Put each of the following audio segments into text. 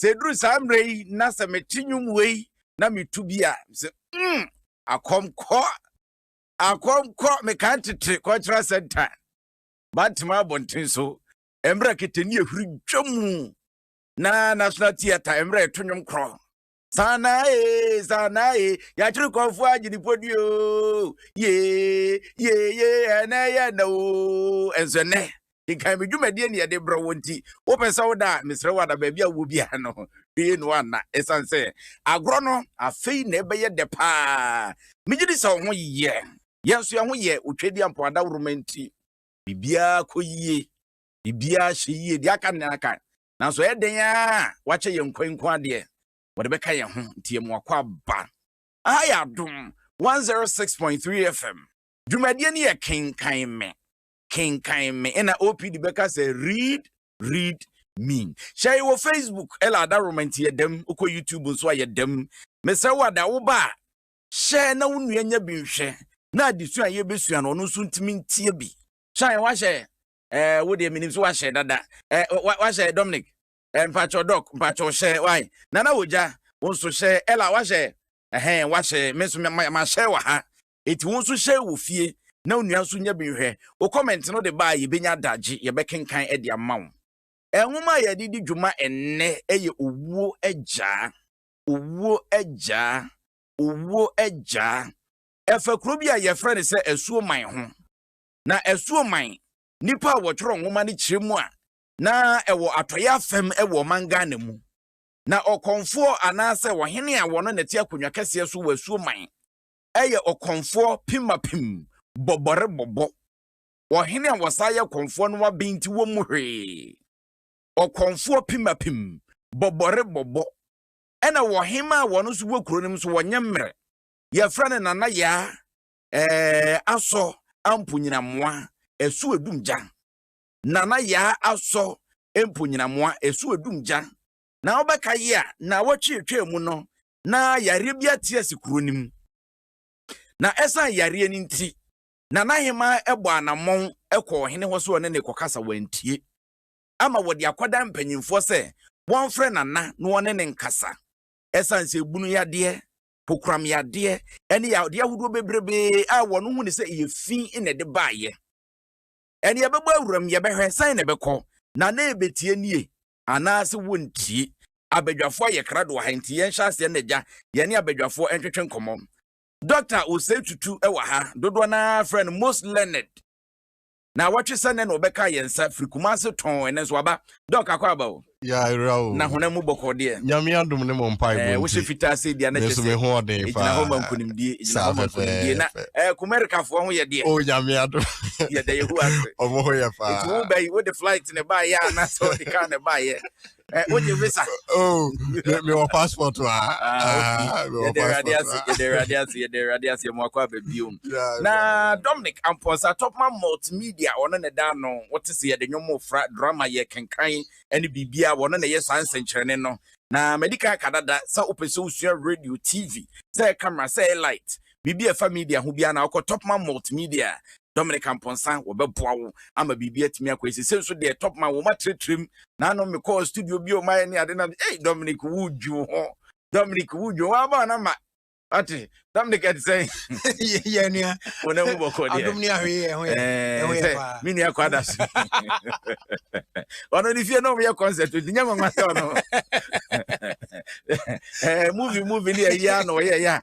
Sɛ ɛduru saa mmerɛ yi na sɛ mete nnwom wei na metu bi a, sɛ mm, akɔmkɔ, akɔmkɔ, mekaa ntetere cultural center, Bantama abɔnten so, mmerɛ ketani ahuri dwa mu, na National Theatre mmerɛ ɛto nnwom korɔ. Sanae, sanae, yɛakyere kɔnfo agyinipodi o, ye, ye, ye, ɛnɛ yɛ na o, ɛnso ɛnɛ, kenkan me dwumadie ne yɛde brɛ wo nti wopɛ sɛ woda a mesrɛ wo ada baabi a wɔ biara no hwee no anna ɛsiane sɛ agorɔ no afei na ɛbɛyɛ dɛ paa megye di sɛ wo ho yɛ yɛn nso yɛn ho yɛ otwadi ampo adaworoma nti biribiara kɔ yie biribiara hyɛ yie deɛ aka ne aka nanso ɛyɛ dɛn a wakyɛ yɛn nkwa nko adeɛ wɔde bɛka yɛn ho nti yɛn mu akɔ aba aha yɛ adom 106.3 fm dwumadie no yɛ kenkan me kenkan me ɛna opd bɛka sɛ read read me hyɛ wɔ facebook ɛla ada romanti yɛ dɛm wokɔ youtube nso a yɛ dɛm mesrɛ wo ada wo ba a hyɛ na wo nua nya bi nhwɛ na adesua a yɛbɛsua no ɔno nso ntumi ntie bi hyɛ wahyɛ ɛɛ wo deɛ menim so wahyɛ dada ɛɛ wahyɛ dominic ɛɛ mpakyɛw dɔk mpakyɛw hyɛ wae nana wogya wo nso hyɛ ɛla wahyɛ ɛhɛn wahyɛ me nso mahyɛ wɔ ha Enti wo nso hyɛ wɔ fie na onua nso nya bi nhwɛ. Wo comment no de ba a yɛbɛnya adagye, yɛbɛkenkan de ama wo. Nwoma a yɛde di dwuma ɛnnɛ yɛ Owuo Agyaa, Owuo Agyaa, Owuo Agyaa. Ɛfa kuro bi a yɛfrɛ no sɛ Asuoman ho. Na Asuoman, nnipa a wɔtwerɛ nwoma no kyerɛ mu a, na ɛwɔ atɔeɛ afam wɔ ɔman Ghana mu. Na ɔkɔmfoɔ anaasɛ ɔhene a ɔno na ɛte akonnwa kɛseɛ so wɔ Asuoman yɛ ɔkɔmfoɔ pimapim bɔbɔre bɔbɔ. Ɔhene a ɔsan yɛ kɔmfoɔ no aben nti wɔmmu hwee. Ɔkɔmfoɔ pimapim bɔbɔre bɔbɔ. Ɛna ɔhemaa a ɔno nso wɔ kuro no mu nso ɔnyɛ mmerɛ. Yɛfrɛ no Nana Yaa ɛɛ Asɔ Amponyinamoa ɛso adum gya. Nana Yaa Asɔ Amponyinamoa ɛso adum gya. Na wobɛka yi a, nnawɔtwe atwaa mu no, na yareɛ bi ate asi kuro no mu na ɛsan yareɛ no nti na n'aheman ɛbɔ anammɔn ɛkɔ ɔhene hɔ so ɔne ne kɔkasa wantie ama wɔde akɔda mpanyinfoɔ sɛ wɔmfrɛ nana na wɔne ne nkasa ɛsan sɛ ebunu yadeɛ kokoram yadeɛ ɛne yadeɛ ahodoɔ bebrebe a wɔn ho ne sɛ ɛyɛ fi na ɛde baayɛ ɛne yɛbɛbɔ awuram yɛbɛhwɛ sɛn na ɛbɛkɔ na na ɛbɛtie nie anaase wontie. Abadwafoɔ ayɛ krado wɔ ha nti yɛn hyɛ aseɛ na gya yɛne abadwafoɔ ntwetwe nkɔmmɔ. Doctor Osei Tutu wɔ ha, dodoɔ no ara frɛ no most learned. Na wɔtwe sɛ nɛ na ɔbɛka yɛn nsa firi Kumase tɔn ɛnɛ nso waba. Doc akɔ aba o. Yɛayera o. Na honam mu bɔkɔɔ deɛ. Nyame adom ne mo mpaebɔ nti. Ɛɛ wohyɛ fitaa sei deɛ na kyɛ sɛ. Me nso me ho ɔden paa. Egyina hɔ ma nkunimdie. Egyina hɔ ma nkunimdie. Na ɛɛ Kumerikafoɔ ho yɛ deɛ. O Nyame adom. Yɛda Yehowa ase. Wɔn ho yɛ paa. Nti wo bɛyi wo de flight. flight na ɛbaeɛ a na sɛ ɔde kaa na ɛbaeɛ wogye visa mewɔ passport a yɛde awurade ase yɛde awurade ase yɛde awurade ase yɛmu akɔ aba biom na dominic ampɔnsa topma multimedia ɔno ne daa no wote sɛ yɛde nwom fra drama yɛ kenkan ne biribia wɔno na ɛyɛ saa nsɛnkyerɛne no na madi kan ka dada sɛ wopɛ sɛ wosua radio tv sɛ camera sɛ light biribi a ɛfa media ho biara na wokɔ Topman Multimedia a, Dominic Amponsah wɔbɛboa wo ama biribi atumi akɔ yie. Sese nso deɛ Topman wɔn atrɛtrɛm na ano mekɔɔ studio bi a wɔn ayɛ ne ade na ei Dominic wodwo ho Dominic wodwo wɔn aba na ma ate Dominic ɛte sɛ yɛ nua wɔn ahu bɔkɔ deɛ adum ni ahwee ɛho yɛ ɛho yɛ paa mi nua kɔ ada so ɔno ne fie na wɔn yɛ concert nti nyɛ nwanwa sɛ ɔno ɛɛ movie movie ni ɛyɛ ano ɔyɛ ɛyɛ a.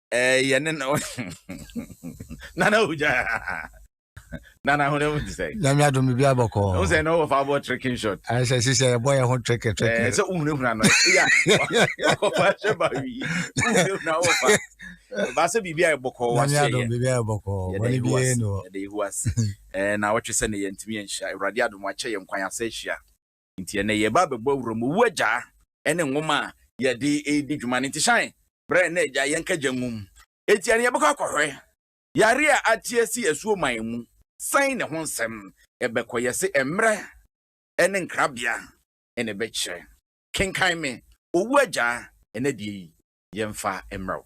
ɛyɛ ne na nana ogya nana ho mu ti sɛ nyame adom biribi abɔkɔ wo sɛ na wɔfa bɔ tricking shot ɛɛ sɛ si sɛ ɛbɔ yɛ ho trick trick ɛɛ sɛ wohunahuna no ya ɔkɔfa hyɛ ba wi wohunahuna wɔfa baasɛ biribi a ɛbɔkɔ wahyɛ yɛ biribi a ɛbɔkɔ wɔne bi yɛ no yɛde yehu ase ɛɛ na wɔtwe sɛ ne yɛntumi yɛnhyia awurade adom akyɛ yɛ nkwan asɛ ahyia Nti ɛnnɛ yɛreba abɛbɔ Awuram Owu Agyaa ne nwoma a yɛde redi dwuma no. Nti Shine, brɛ na agya yɛnka agya nwum. Enti ɛnnɛ yɛbɛkɔ akɔhwɛ yare a ate asi asuoman mu sɛn ne ho nsɛm. Ɛbɛkɔ yɛse mmerɛ ne nkrabea na ɛbɛkyerɛ. Kenkan me Owu Agyaa ɛnɛ deɛ yi yɛmfa mmrɛ wo.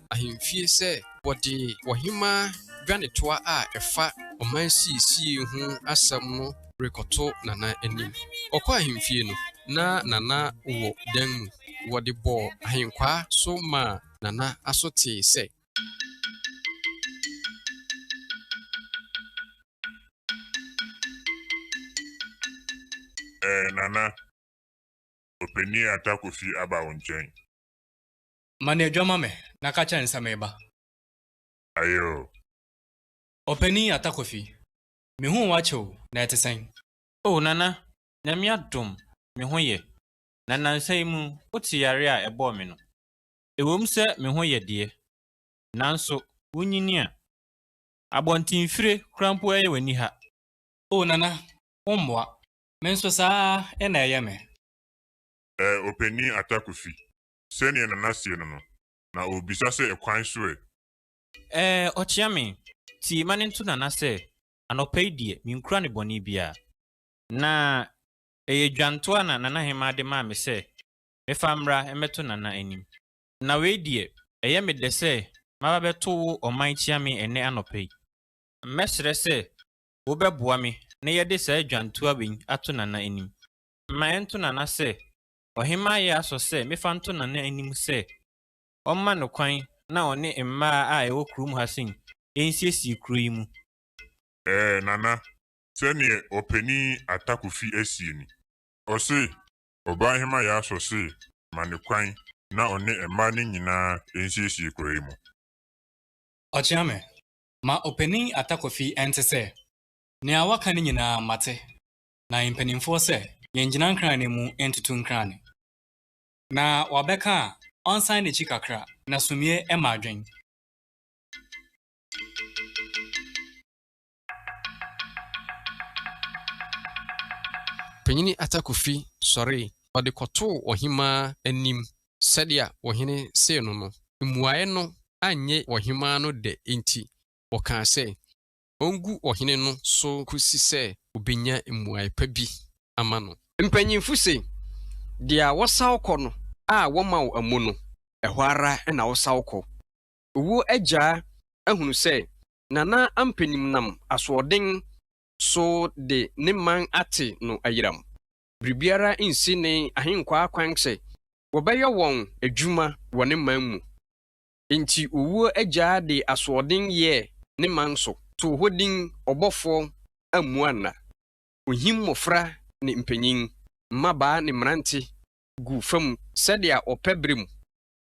ahemfie sɛ wɔde ɔhemmaa dwanetoa a ɛfa ɔmansiesiei ho asɛm no rekɔto Nana anim. Ɔkɔɔ ahemfie no, na Nana wɔ dan mu. Wɔde bɔɔ ahenkwaa so maa Nana aso tee sɛ. Ɛɛ Nana, Ɔpanin Atta Kofi aba wo nkyɛn. Ma no adwa ma me na ka kyerɛ no sɛ mereba. Aye o. Ɔpanin Atta Kofi, mehuu wo akyɛ o, na ɛte sɛn? O Nana, Nyame adom, me ho yɛ, na nnansa yi mu wote yareɛ a ɛbɔɔ me no? Ɛwom sɛ me ho yɛ deɛ, nanso wonyini a, abɔntenfire kora mpo ɛyɛ w'ani ha. O Nana, wo mmoa, me nso saa ara na ɛyɛ me. Eh, Ɔpanin Atta Kofi, sɛdeɛ Nana seɛ no no, na ɔrebisa sɛ ɛkwan so ɛ? Ɛɛ, ɔkyea me. Nti ma no nto Nana sɛ, Anɔpa yi deɛ, menkura no bɔne biara. Na ɛyɛ dwantoa na Nana Hemaa de maa me sɛ mefa mmra mmɛto Nana anim. Na wei deɛ, ɛyɛ me dɛ sɛ maba bɛto wo ɔman kyea me ɛnnɛ anɔpa yi. Mɛsrɛ sɛ wobɛboa me na yɛde saa dwantoa wei ato Nana anim. Ma ɛnto Nana sɛ Ɔhemmaa yɛ aso sɛ mefa nto Nana anim sɛ ɔmma no kwan na ɔne mmaa a ɛwɔ kurom ha sin nsiesie kuro yi mu. Ɛɛ, Nana, sɛdeɛ Ɔpanin Atakofi asie ni. Ɔse, Ɔbaahema yɛ aso se ma no kwan na ɔne mmaa no nyinaa nsiesie kuro yi mu. Ɔkyeame, ma Ɔpanin Atakofi ɛnte sɛ, Nea woaka no nyinaa mate, na mpanimfoɔ sɛ yɛngyina nkran no mu ntutu nkran no, na wabɛka a, ɔnsan n'akyi kakra, na sumiiɛ mma adwen. Panyini Ata Kofi sɔree, ɔde kɔtoo ɔhemaa anim sɛdeɛ ɔhene see no no. Mmuaeɛ no annye ɔhemaa no dɛ enti, ɔkaa sɛ, ongu ɔhene no so kosi sɛ obenya mmuae pa bi ama no. Mpanyimfo se, Deɛ wosaw kɔ no a wɔma wo amu no, ɛhɔ ara na wosaw kɔ. Owuo agyaa ahunu sɛ Nana Ampanim nam asoɔden so de ne man ate no ayiram. Biribiara nsi ne ahenkwaa kwan sɛ wɔbɛyɔ wɔn adwuma wɔ ne man mu. Enti owuo agyaa de asoɔden yɛɛ ne man so, too hɔ din Ɔbɔfoɔ ammua nna. Ɔhim mmɔfra ne mpanyin, mmabaa ne mmerante guu fam sɛdeɛ ɔpɛ berɛ mu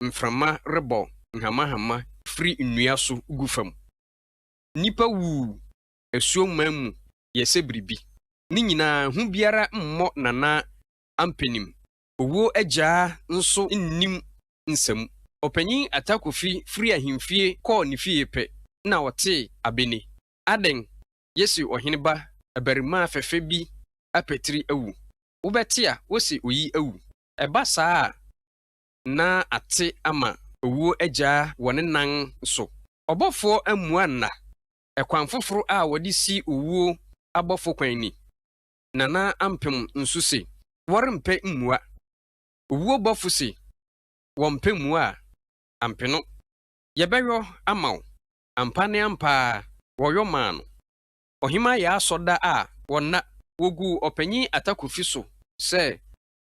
mframa rebɔ nhamahama firi nnua so gu fam. Nnipa wuu asuo mman mu yɛ sɛ biribi. Ne nyinaa, hu biara mmɔ Nana Ampanim Owuo agyaa nso nnim nsamu. Ɔpanyin Atta Kofi firi ahemfie kɔɔ ne fie pɛ na ɔtee abene. Adɛn, yɛse ɔhene ba abarimaa fɛfɛ bi apatiri awu. Wobɛte a wose oyi awu. Ɛba saa a, na ate ama owuo agyaa wɔ ne nan so. Ɔbɔfoɔ ammua nna. Ɛkwan foforo a wɔde si owuo abɔfo kwan ni. Nana Ampem nso se wɔrempɛ mmua. Owuo bɔfo se wɔmpɛ mmua a, ampeno. Yɛbɛyɔ ama wo. Ampa ne ampa ara, wɔyɔ maa no. Ɔhemaa Yaa sɔ da a wɔnna, wɔguu Ɔpanyin Atta Kofi so sɛ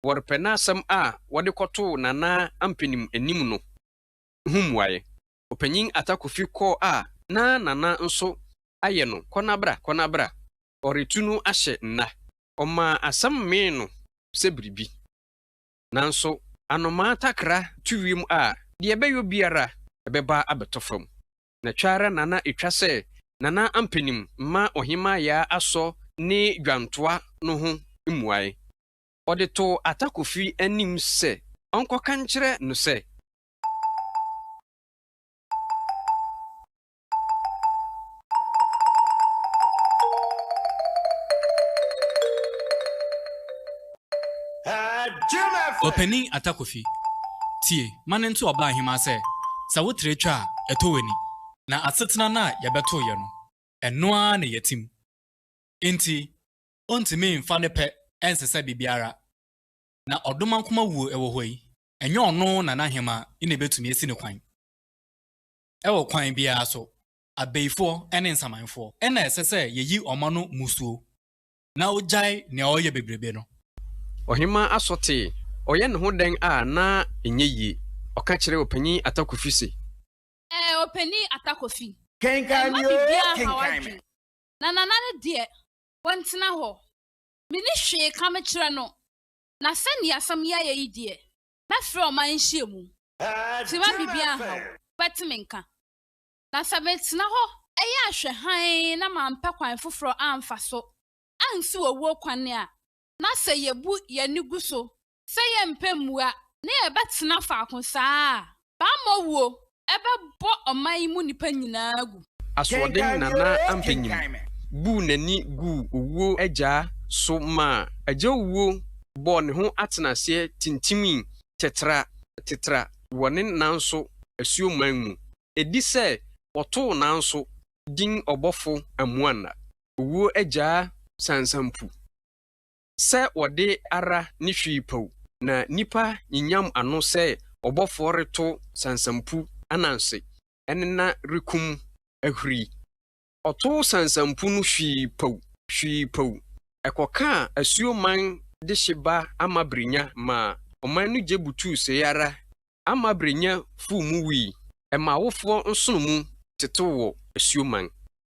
wɔrepɛ n'asɛm a wɔde kɔtoo Nana Ampenim anim no ho mmuaeɛ. Ɔpanyin Atta Kofi kɔɔ a na Nana nso ayɛ no kɔ-na-bra kɔ-na-bra ɔretu no ahyɛ nna. Ɔmaa asɛm mee no sɛ biribi. Nanso anomaa takra tu wiem a, deɛ ɛbɛyɔ biara, ɛbɛba abɛtɔ fam. Na ɛtwa ara na na ɛtwa sɛ Nana Ampanim mma Ɔhemmaa Yaa Asɔ ne dwantoa no ho mmuae. Ɔde too Ata Kofi anim sɛ ɔnkɔka nkyerɛ no sɛ. Ɔpanin Atta Kofi, tie ma no nto ɔbaahemaa sɛ, sɛ wo tere twa a, ɛtɔ w'ani. Na asetena no a yɛbɛtoo yɛ no, ɛno ara na yɛatim. Enti, ontumi mfa ne pɛ nsesa biribiara. Na ɔdomankoma wuo wɔ hɔ yi, ɛnyɛ ɔno na n'ahemaa na ɛbɛtumi asi no kwan. Wɔ kwan biara so, abayifoɔ ne nsamanfoɔ na ɛsɛ sɛ yɛyi wɔn ano mmusuo na wɔgyae nea wɔreyɛ bebrebe no. Ɔhemmaa Aso tee, ɔyɛ ne ho dɛn a na ɛnyɛ yie? Ɔka kyerɛɛ Ɔpanin Atta Kofi se. Ɛɛ, Ɔpanin Atta Kofi. Kenkan me oo, kenkan me. Na Nana no deɛ, wantena hɔ. Menni hwee ka mekyerɛ no. Na sɛdeɛ asɛm yi ayɛ yi deɛ, Mɛfrɛ ɔman nhyiamu, fi ma biribi anha wo, wobɛte me nka. Na sɛ metena hɔ yɛ ahwɛ hann na mampɛ kwan foforɔ amfa so ansiw owuo kwane a, na sɛ yɛbu yɛn ani gu so sɛ yɛrempɛ mmua na yɛbɛtena faako saa a, Bammɔ wuo bɛbɔ ɔman yi mu nnipa nyinaa agu. Asoɔden Nana Ampanyim buu n'ani guu owuo agya so maa agya owuo bɔɔ ne ho atenaseɛ tintimii tetra tetra wɔ ne nanso asuo man mu. Ɛdi sɛ wɔtoo nanso din ɔbɔfo Amuanna, owuo agya sansampu. sɛ wɔde ara ne hwee paw na nnipa nyinyam ano sɛ ɔbɔfoɔ reto sansampu ananse ɛne na rekum ahuri. Ɔtoo sansampu no hwii paw, hwii paw, ɛkɔkaa asuo man dehye ba Amabrenya maa ɔman no gye butuu sei ara Amabrenya fuu mu wui, ɛma awofoɔ nsono mu tetew wɔ asuo man.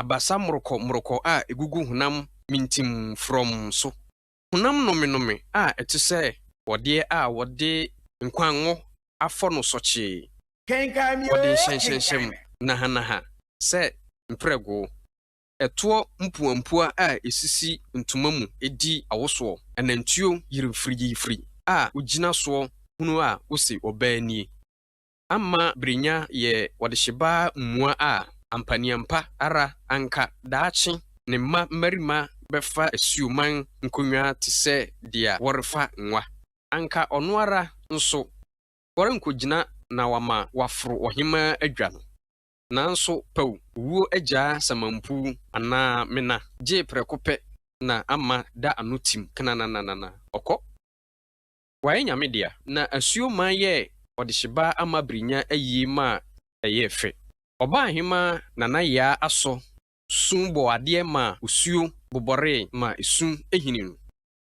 Abasa morokɔ morokɔ a egugu honam mintim frɔmm so. Honam nomenome a ɛte sɛ bɔdeɛ a wɔde nkwa ngo afɔ no sɔkyee. Wɔde nhyɛnhyɛnhyɛm nahanaha sɛ mprɛgoo. Ɛtoɔ mpuampua a esisi ntoma mu di awosoɔ. Anantuo yiri firigyiifiri a ogyina soɔ hunu a ose ɔbaa nie. amma Brenya yɛ ɔdehyebaa mua a, ampaneampa ara anka daakye ne mma mmarima bɛfa asuoman nkonnwa te sɛ deɛ wɔrefa nwa. Anka ɔno ara nso, ɔrenkɔgyina na wama wɔaforo ɔhemmaa adwa no. Nanso paw wuo agyaa samanpuu anaa mena gye prɛko pɛ na ama da ano tim knanananana, ɔkɔ. Wayɛ Nyame dea. Na asuo man yɛɛ ɔdehyebaa ama Birinya ayie maa ɛyɛɛ fɛ. Ɔbaahemaa Nana Yaa asɔ sum bɔɔ adeɛ maa osuo bobɔree maa esum hini no.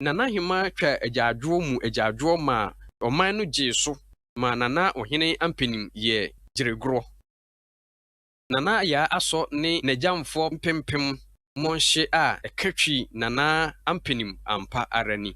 Nanahemaa twaa agyaadwoɔ mu agyaadwoɔ maa ɔman no gyee so maa Nana Ohene Ampenim yɛɛ gyeregorɔ. Nana Yaa asɔ ne nagyamfoɔ mpempem mmɔnhye a ɛka twi Nana Ampenim ampa ara ni.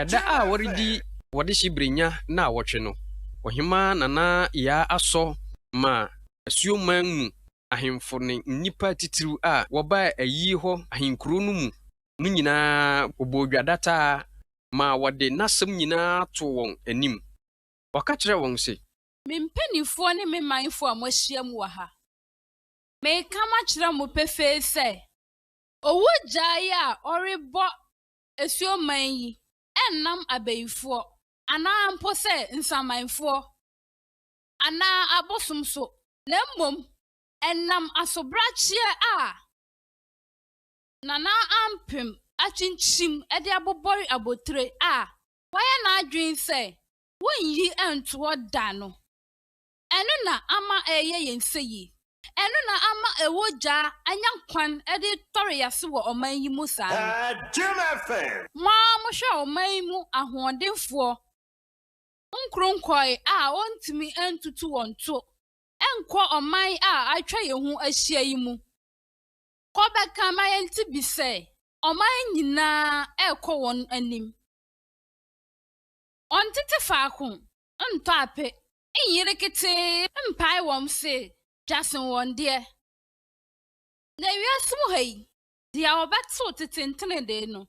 Ɛda a wɔredi wɔdehye Brenya nnawɔtwe no, Ɔhemmaa Nana Yaa Asɔ maa Asuoman mu ahemfo ne nnipa atitiriw a wɔbaa ayi hɔ ahenkurow no mu no nyinaa bɔɔ dwa dataa maa wɔde n'asɛm nyinaa too wɔn anim. Ɔka kyerɛɛ wɔn se. Me mpanimfoɔ ne me manfoɔ a moahyiam wɔ ha. Mereka makyerɛ mo pefee sɛ, owu gyae a ɔrebɔ asuo man yi nnam abayifoɔ, anaa mpo sɛ nsamanfoɔ, anaa abosom so, na mmom ɛnam asobrakyeɛ a Nana Ampem akyinkyim de abobɔre abotire a wayɛ n'adwene sɛ wonnyi ntoɔ da no. Ɛno na ama ɛreyɛ yɛn fɛ yi. Ɛno na ama ɛwɔ gya anya kwan de retɔre yɛn ase wɔ ɔman yi mu saa no. Mo ara mohwɛ ɔman yi mu ahoɔdenfoɔ nkoronkoe a wɔntumi ntutu wɔn to nkɔ ɔman a atwa yɛn ho ahyia yi mu kɔ bɛka ma yɛnte bi sɛ ɔman nyinaa rekɔ wɔn anim. Wɔntete faako ntɔ ape nyere ketee mpae wɔn se dwa sen wɔn deɛ. Na wiase mu ha yi, deɛ ɔbɛtew tete ntenedee no,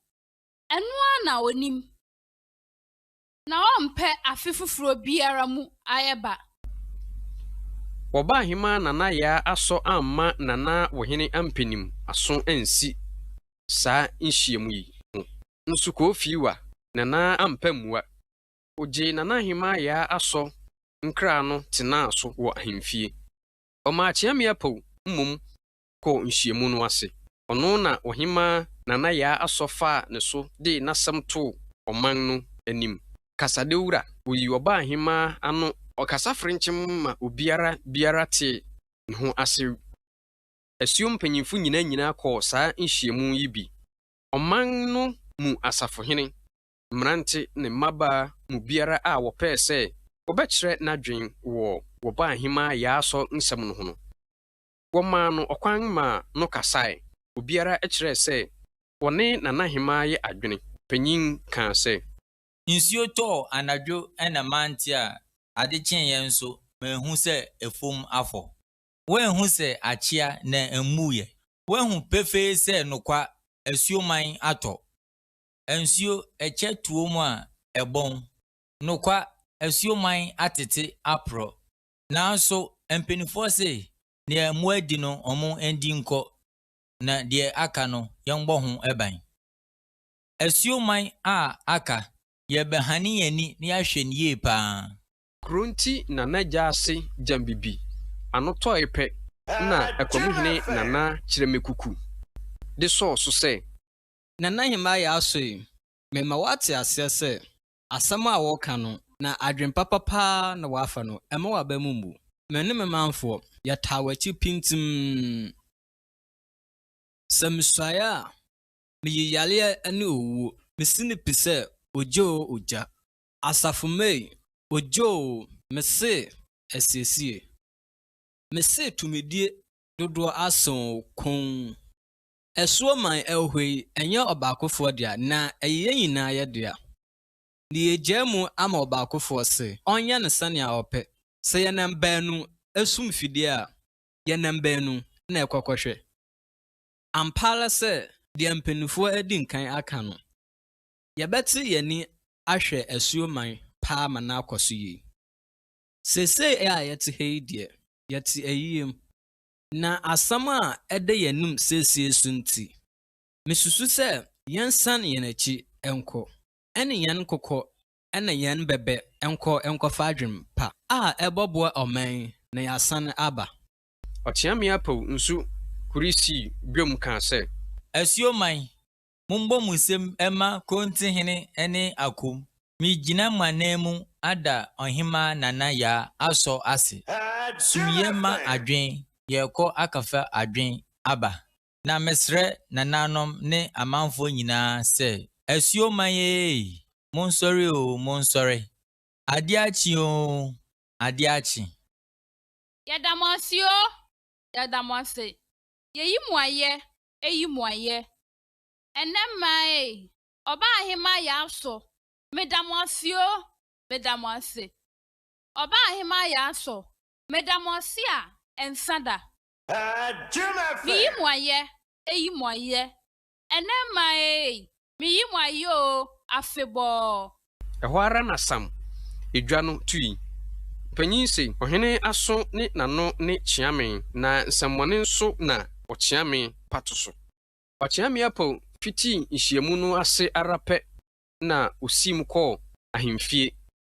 ɛno ara na onim, na ɔmpɛ afe foforɔ biara mu ayɛba. Wɔbaa hema Nana Yaa asɔ amma Nana Wohene Ampenim aso ansi saa nhyiamu yi ho nso Kofiwa Nana ampɛ mmua. Ogyee Nana Ahemaa Yaa Asɔ nkra no tenaa so wɔ ahemfie. Ɔmaa Kyeame Apaw mmom kɔɔ nhyiamu no ase. Ɔno na Ɔhemaa Nana Yaa Asɔ faa ne so dee n'asɛm too ɔman no anim. Kasadawura, Oyi ɔbaa ahemaa ano ɔkasa frenkyem ma obiara biara tee ne ho ase. Asuo mpanyimfo nyinaa nyinaa kɔɔ saa nhyiamu yi bi. Ɔman no mu asafohene, mmerante ne mmabaa mu biara a wɔpɛɛ sɛ wɔbɛkyerɛ n'adwene wɔ Wɔbɔ Ahemaa Yaasɔ nsɛm no ho no, wɔmaa no ɔkwan ma no kasae. Obiara kyerɛɛ sɛ wɔne Nanahemaa yɛ adwene. Ɔpanyin kaa sɛ. Nsuo tɔɔ anadwo na mante a ade kyeeɛ nso manhu sɛ afuom afɔ. Woanhu sɛ akyea na ɛmmuiɛ? Woahu pefee sɛ nokwa asuoman atɔ? nsuo ɛkyɛ tuo mu a ɛbɔn. Nokwa, asuo man atete aporɔ. Nanso mpaninfoɔ se deɛ mmoa di no ɔmo ndi nkɔ na deɛ aka no yɛnbɔ ho ban. Asuo man a aka, yɛbɛhane yɛn ani na yɛahwɛ no yie paa. Kuro nti na n'agya ase gyam bibi ano tɔe pɛ na Akwamuhene Nana Kyerɛmɛkuku de sɔɔ so sɛ. na na Nehemia asɔ yi, mema woate aseɛ sɛ, asɛm a woreka no, na adwene papa pa ara na woafa no, mma w'aba mu mmu. Me ne me manfoɔ, yɛtaa w'akyi pintinn. Sɛ mesuaeɛ a, meyi yareɛ ne owuo, mesi no pi sɛ ogya oo ogya. Asafo May, Ogya oo, mese asiesie. Mese tumidie dodoɔ asen oo, komm. Asuo man ɛwhɔ yi ɛnyɛ ɔbaakofoɔ dea na ɛyɛ yɛn nyinaa yɛ dea. Na yɛagyaa mu ama ɔbaakofoɔ se ɔnyɛ no sɛnea ɔpɛ. Sɛ yɛnam baanu so mfidie a, yɛnam baanu na ɛkɔkɔhwɛ. Ampa ara sɛ deɛ mpanimfoɔ adi nkan aka no, yɛbɛte yɛn ani ahwɛ asuo man paa ma no akɔ so yie. Seesei a yɛte ha yi deɛ, yɛte ayie mu. Na asɛm a ɛda yɛn anim seesei so nti, misusu sɛ yɛnsan yɛn akyi nkɔ ne yɛn nkokɔ ne yɛn bɛbɛ nkɔ nkɔfa adwene pa a ɛbɛboa ɔman yi na yɛasan aba. Ɔteameapaw nsu kuri sii dwam kaa sɛ. Asuo man, mombɔ mo nsam mma Konte hene ne Akom. Megyina mo ananmu ada Ɔhemmaa Nana Yaa Asɔ ase. Sumyɛ mma adwen, yɛrekɔ akɔfa adwen aba. Na mesrɛ Nananom ne amanfoɔ nyinaa sɛ, Asuo man ee! Monsɔre oo, monsɔre! Adeɛ akye oo, adeɛ akye! Yɛda mo ase oo, yɛda mo ase! Yɛyi mo ayɛ, eyi mu ayɛ. Ɛnnɛ mmaa ei, Ɔbaahemaa Yaasɔ, meda mo ase o, meda mo ase. Ɔbaahemaa Yaasɔ, meda mo ase a ɛnsa da. Meyi mo ayɛ, eyi mu ayɛ. Ɛnnɛ mmaa ei, Meyi mo ayɛ oo, afebɔɔ. Ɛhɔ ara na Sam edwa no tui. Mpanyin se, Ɔhene aso ne n'ano ne kyea me, na nsɛmmɔne nso na ɔkyea me pato so. Ɔkyeame Apaw fitii nhyiamu no ase ara pɛ na osiim kɔɔ ahemfie.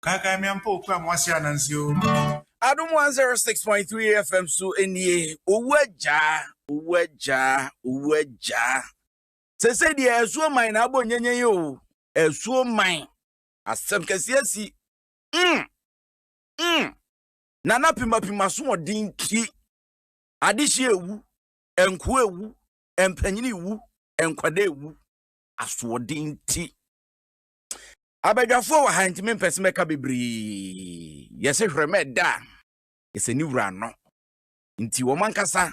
Kaekae me ampa o, kura mo ase ananse o. Adom 106.3 FM so nie owu agya owu agya owu agya sese deɛ ɛsuo man na abɔ nyenye yi o ɛsuo man asɛm kɛseɛ si mm mm nana pimapima so ɔden ti adehye ewu nkoa ewu mpanyin ewu nkwadaa ewu asoɔden ti. abadwafoɔ wɔ ha nti mempɛ sɛ mɛka bebree yɛse hwerɛ ma ɛda a ɛsɛ ne wura no nti wɔn ankasa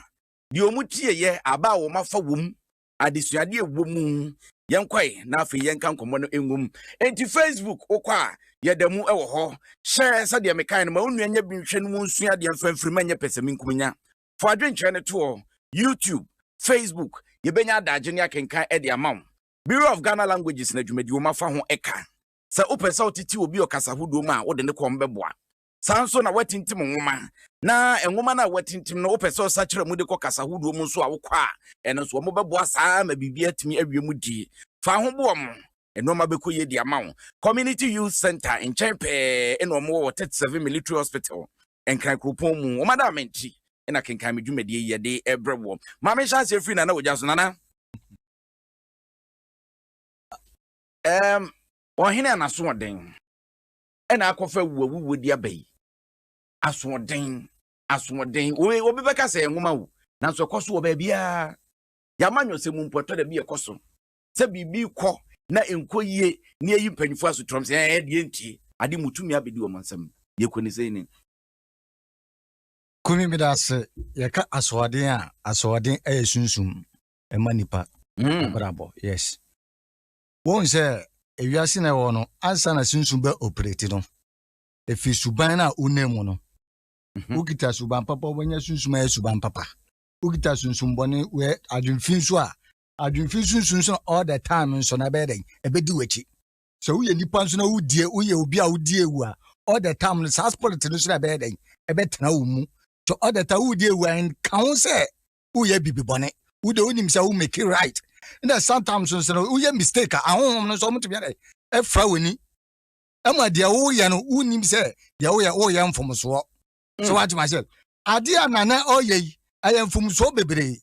deɛ wɔn tieɛ aba a wɔn afa wɔm adesuadeɛ wɔ mu yɛnkɔe na afei yɛnka nkɔmmɔ no ngom nti facebook wokɔ a yɛda mu wɔ hɔ hyɛ sɛdeɛ mekae no ma wo nua nya bi nhwɛ no mu nsua adeɛ mfa mfiri ma nyɛ pɛsɛmenkumnya fo adwenkyerɛ no toɔ youtube facebook yɛbɛnya adagye ne akenkan de ama wo Bureau of Ghana Languages na dwumadiwoma fa ho ka. Sɛ wopɛ sɛ wotete obi ɔkasa hodoɔ mu a, wode ne kɔm bɛboa. Saa nso na woatintim nwoma, na nwoma no a woatintim no wopɛ sɛ ɔsakyera mu de kɔ kasa hodoɔ mu nso a, wokɔ a, ɛno nso wɔbɛboa saa ara ma biribi atumi awie mu die. Fa ho boɔ mo. Nnoɔma bɛkɔ yie de ama wo. Community Youth Centre nkyɛn pɛɛ na wɔwɔ wɔ 37 Military Hospital, Nkran kuropɔn mu. Wɔn adaama nti na Kenkan Me dwumadie yi yɛde brɛ woɔ. Ma menhyɛ aseɛ firi Nana Ogya so. Nana. ɛɛm ɔhene a n'asoɔden ɛna akɔfa wuwawuwo di aba yi asoɔden asoɔden oye obi bɛka sɛ nwoma wo nanso ɛkɔ so wɔ baabiara yɛama nyɔsɛ mu mpo ɛtɔ da bi ɛkɔ so sɛ biribi kɔ na nkɔ yie ne ayi mpanyinfoɔ asotrɔm sɛ ɛɛ deɛ ntie ade mu tumi abɛdi wɔn nsam deɛ kɔ ne sɛ ni. kumi bi da ase yɛka asoɔden a asoɔden ɛyɛ sunsum ɛma nipa hmm. abrabɔ yes wɔn sɛ ewiase na ɛwɔ no ansa na sunsun bɛ operate no efi suban na onam mu no mhm. wokita suban papa wɔnyɛ sunsun ayɛ suban papa wokita sunsun bɔne wɛ adwemfin so a adwemfin sunsun so all the time nso na ɛbɛyɛ dɛ ɛbɛdi w'akyi sɛ woyɛ nipa nso na wodie woyɛ obi a wodie wu a all the time no saa spirit no so na ɛbɛyɛ dɛ ɛbɛtena wo mu so all the time wodie wu a nka ho sɛ woyɛ bibi bɔne wode wonim sɛ wo make right na sometimes nso no woyɛ mistake a ahohom no nso ɔmotumi adɛ ɛfra w'ani ɛma deɛ woyɛ no wonim sɛ deɛ woyɛ woyɛ mfomsoɔ so mm. wate mahyɛ adeɛ a nana ɔyɛ yi ɛyɛ mfomsoɔ bebree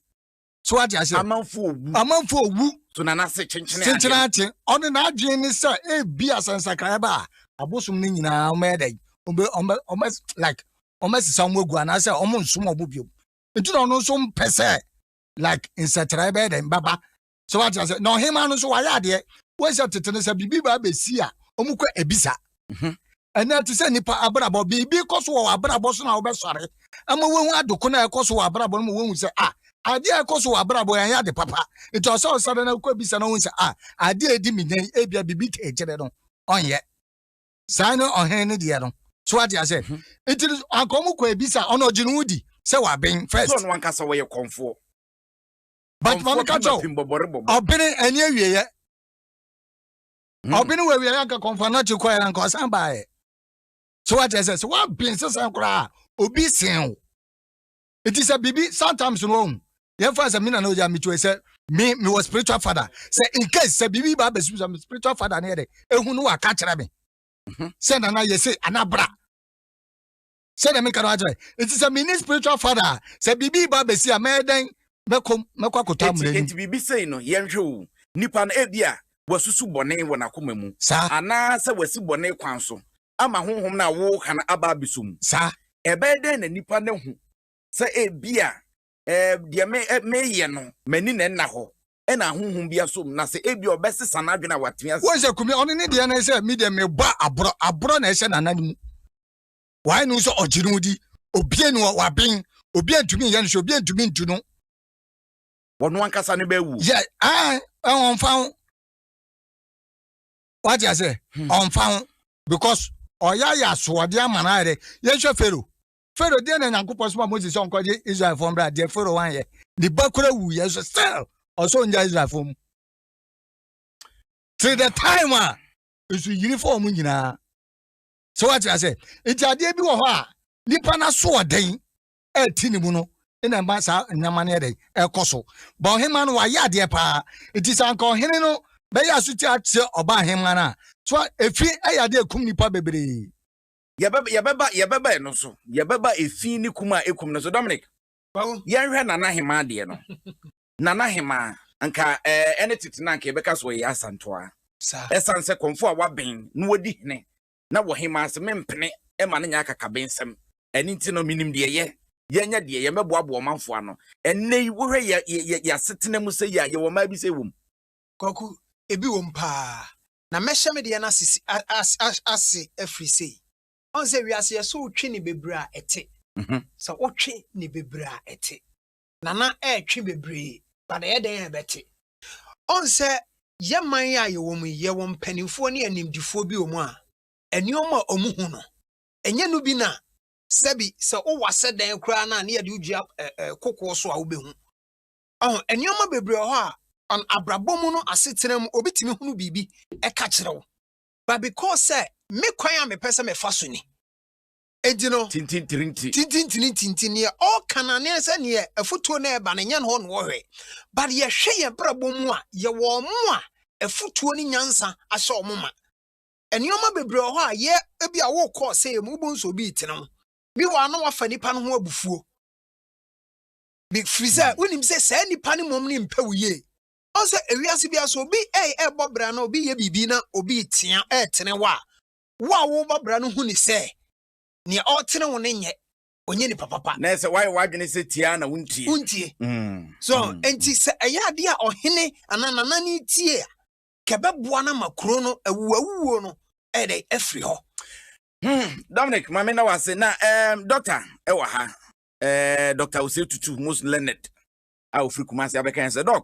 so wate ahyɛ amanfo owu amanfo owu so nana se kyenkyene adeɛ kyenkyene adeɛ ɔne n'adwene ne sɛ ebi asɛnsakraeɛ ba a abosom no nyinaa ɔmɛyɛ dɛ ɔmɛ ɔmɛ ɔmɛ like ɔmɛsesa wɔn agu anaasɛ wɔn nsom wɔn bio nti na ɔno nso mpɛ sɛ like nsɛkyerɛ bɛyɛ dɛn bɛba sɛ wate ase na ɔhemaa no nso wayɛ adeɛ wɔn sɛ tete no sɛ biribi ba abɛsi a wɔn kɔ ebisa mhm. ɛnna te sɛ nipa abrabɔ biribi kɔ so wɔ abrabɔ so na wɔbɛsɔre ama wɔn adoko na ɛkɔ so wɔ abrabɔ no mu wɔn sɛ a adeɛ ɛkɔ so wɔ abrabɔ yɛn yɛ ade papa nti ɔsɛ ɔsɔre na kɔ ebisa na wɔn sɛ a adeɛ edi mi nyan ebia biribi kɛkyerɛ no ɔnyɛ. saa ne ɔhene no deɛ no so wate aseɛ mhm. nti anka ɔmo kɔ ebisa ɔno ɔgye ne ho di sɛ waben first. sɛ ɔno ankasa wɔyɛ kɔnfoɔ. but maame ka kyɛw ɔbene ɛni awieɛ hmm. ɔbene wɔ awieɛ anka kɔnfoɔ anakye kɔ yɛ anka ɔsan baayɛ so wate aseɛ sɛ waben sisan koraa obi sen o. eti sɛ biribi sometimes no ɔhu yɛn fa sɛ mi na na ogya mi to yɛ sɛ mi mi wɔ spiritual father sɛ in case sɛ biribi ba abɛsi sɛ mi spiritual father ne yɛ dɛ ehu no waka kyerɛ mi mhm. sɛ nana yɛ se anabra sɛ dɛm nka no akyerɛ eti sɛ mi ne spiritual father sɛ biribi ba abɛsi a mɛyɛ dɛn mɛkɔ mɛkɔ akɔtɔ amuna ni. eti biribi sɛn no yɛn hwɛ o nipa no ebi a wasusu bɔne wɔ n'akoma mu anaasɛ wasi bɔne kwan so ama honhom no a woka no aba abɛsɔ mu. Saa. Ɛbɛyɛ dɛn na nnipa no ahu sɛ ebia deɛ meyɛ no, m'ani na ɛnna hɔ, ɛna honhom bi asɔ mu, na sɛ ebia ɔbɛsesa n'adwene a watwe ase? Wohu sɛ Kumi, ɔno ne deɛ no sɛ, me deɛ mebɔ aborɔ, aborɔ na ɛhyɛ n'anan mu. Wae no sɛ ɔgye no di, obie no waben, obi antumi nyɛ no hwɛ, obi antumi ntu no. Wɔn ankasa no bɛwu. Yɛ, ɛn, ɛn, wɔn fa ho. wate aseɛ hmm. ɔmfa ho because ɔyɛayɛ asoɔde ama no ayɛ dɛ yɛnhwɛ fero fero deɛ na nyankopɔn soma mose sɛ ɔnkɔgye israelfoɔ mbra deɛ fero wanyɛ ne ba kora wuyɛ so still ɔsɛ ɔngya israelfoɔ mu till the time a nso yiri fɔ wɔn nyinaa sɛ wate asɛ nti adeɛ bi wɔ hɔ a nipa no asoɔden ɛte ne mu no na ɛma saa nneɛma no yɛ dɛn ɛkɔ so ba ɔhema no wayɛ adeɛ paa nti sɛ anka ɔhene no bɛyɛ asotwe akyerɛ ɔba ahema no a so a efi ɛyɛ adeɛ ekum nipa bebree yɛbɛba yɛbɛba yɛbɛba ɛno so yɛbɛba efi ne kum a ekum no so dominic yɛnhwɛ nana hema adeɛ no nana hema nka ɛɛ ɛne tete na nka yɛbɛka so ɛyɛ asantoa ɛsan sɛ kɔnfo a waben na wadi hene na wɔ hemaa dze memmpene mma no nnyɛ akakabensɛm. Ɛno ntsi no, minyim deɛ yɛ, yɛnyɛ deɛ, yɛmmɛboaboa ɔmanfoɔ ano. Ɛnnɛ yi, wohwɛ yɛ, yɛ, yɛ, yɛ asetsena mu sɛ yi a, yɛwɔ mmaa bi sɛ wɔ mu? Kwaku, Ebi wɔ mu paa. Na mɛhyɛ me deɛ no ase, si, a, a, a, ase afiri sei. Ɔhu sɛ wiase yɛ sɛ wotwe ne bebree a ɛte. Sɛ wotwe ne bebree a ɛte. na na ɛretwe bebree, but ɛyɛ dɛn a ɛbɛte? Ɔn sɛ yɛ man yi a yɛwɔ mu yi, yɛwɔ mpanimfoɔ ne animdifoɔ bi wɔ mu a, nneɛma a wɔhu no, ɛnyɛ no bi na sɛbi sɛ wowɔ asɛ dan koraa no a ne yɛde wodua ɛ ɛ kokoɔ so a wobɛhu. Ɔho, nneɛma bebree wɔ hɔ a, ɔn abrabɔ mu no asetena mu obi tumi hunu biribi ɛka kyerɛ wo, but because sɛ me kwan a mepɛ sɛ mefa so ni, Enti no, Tintintirinti. tintintirintinti, neɛ ɔreka no aneɛ sɛ neɛ afutuo no ɛreba no ɛnyɛ no hɔ na ɔhwɛ. But yɛhwɛ yɛn brabɔ mu a, yɛwɔ ɔmo a afutuo ne nyansa ahyɛ ɔmo ma. Nneɛma bebree wɔ hɔ a yɛ ebi a wokɔ ɔsɛeɛ mu wobɛhu sɛ obi retene wo. Bi wɔ a na wafa nipa no ho abufuo. Bi firi sɛ wonim sɛ saa nipa no mmom ne mpɛ wo yie. Ɔn sɛ ewiase biara sɛ obi ɛɛbɔ bra na obi yɛ biribi na obi retea ɛɛtene wo a, wo a woreba bra no hu no sɛ nea ɔretene wo no nyɛ ɔnyɛ nipa papa. Na sɛ woayɛ w'adwene sɛ tie a na wontie. Wontie. Mm. So mm, enti mm. sɛ ɛyɛ adeɛ a ɔhene anaa nanane tie a kɛbɛboa no ma kuro no awuawuo no ɛyɛ dɛ afiri hɔ. Hmm, Dominic maame na wase na um, dɔkta ɛwɔ ha uh, dɔkta ose tutu most learned a ofiri kumase abɛka yɛn sɛ dɔk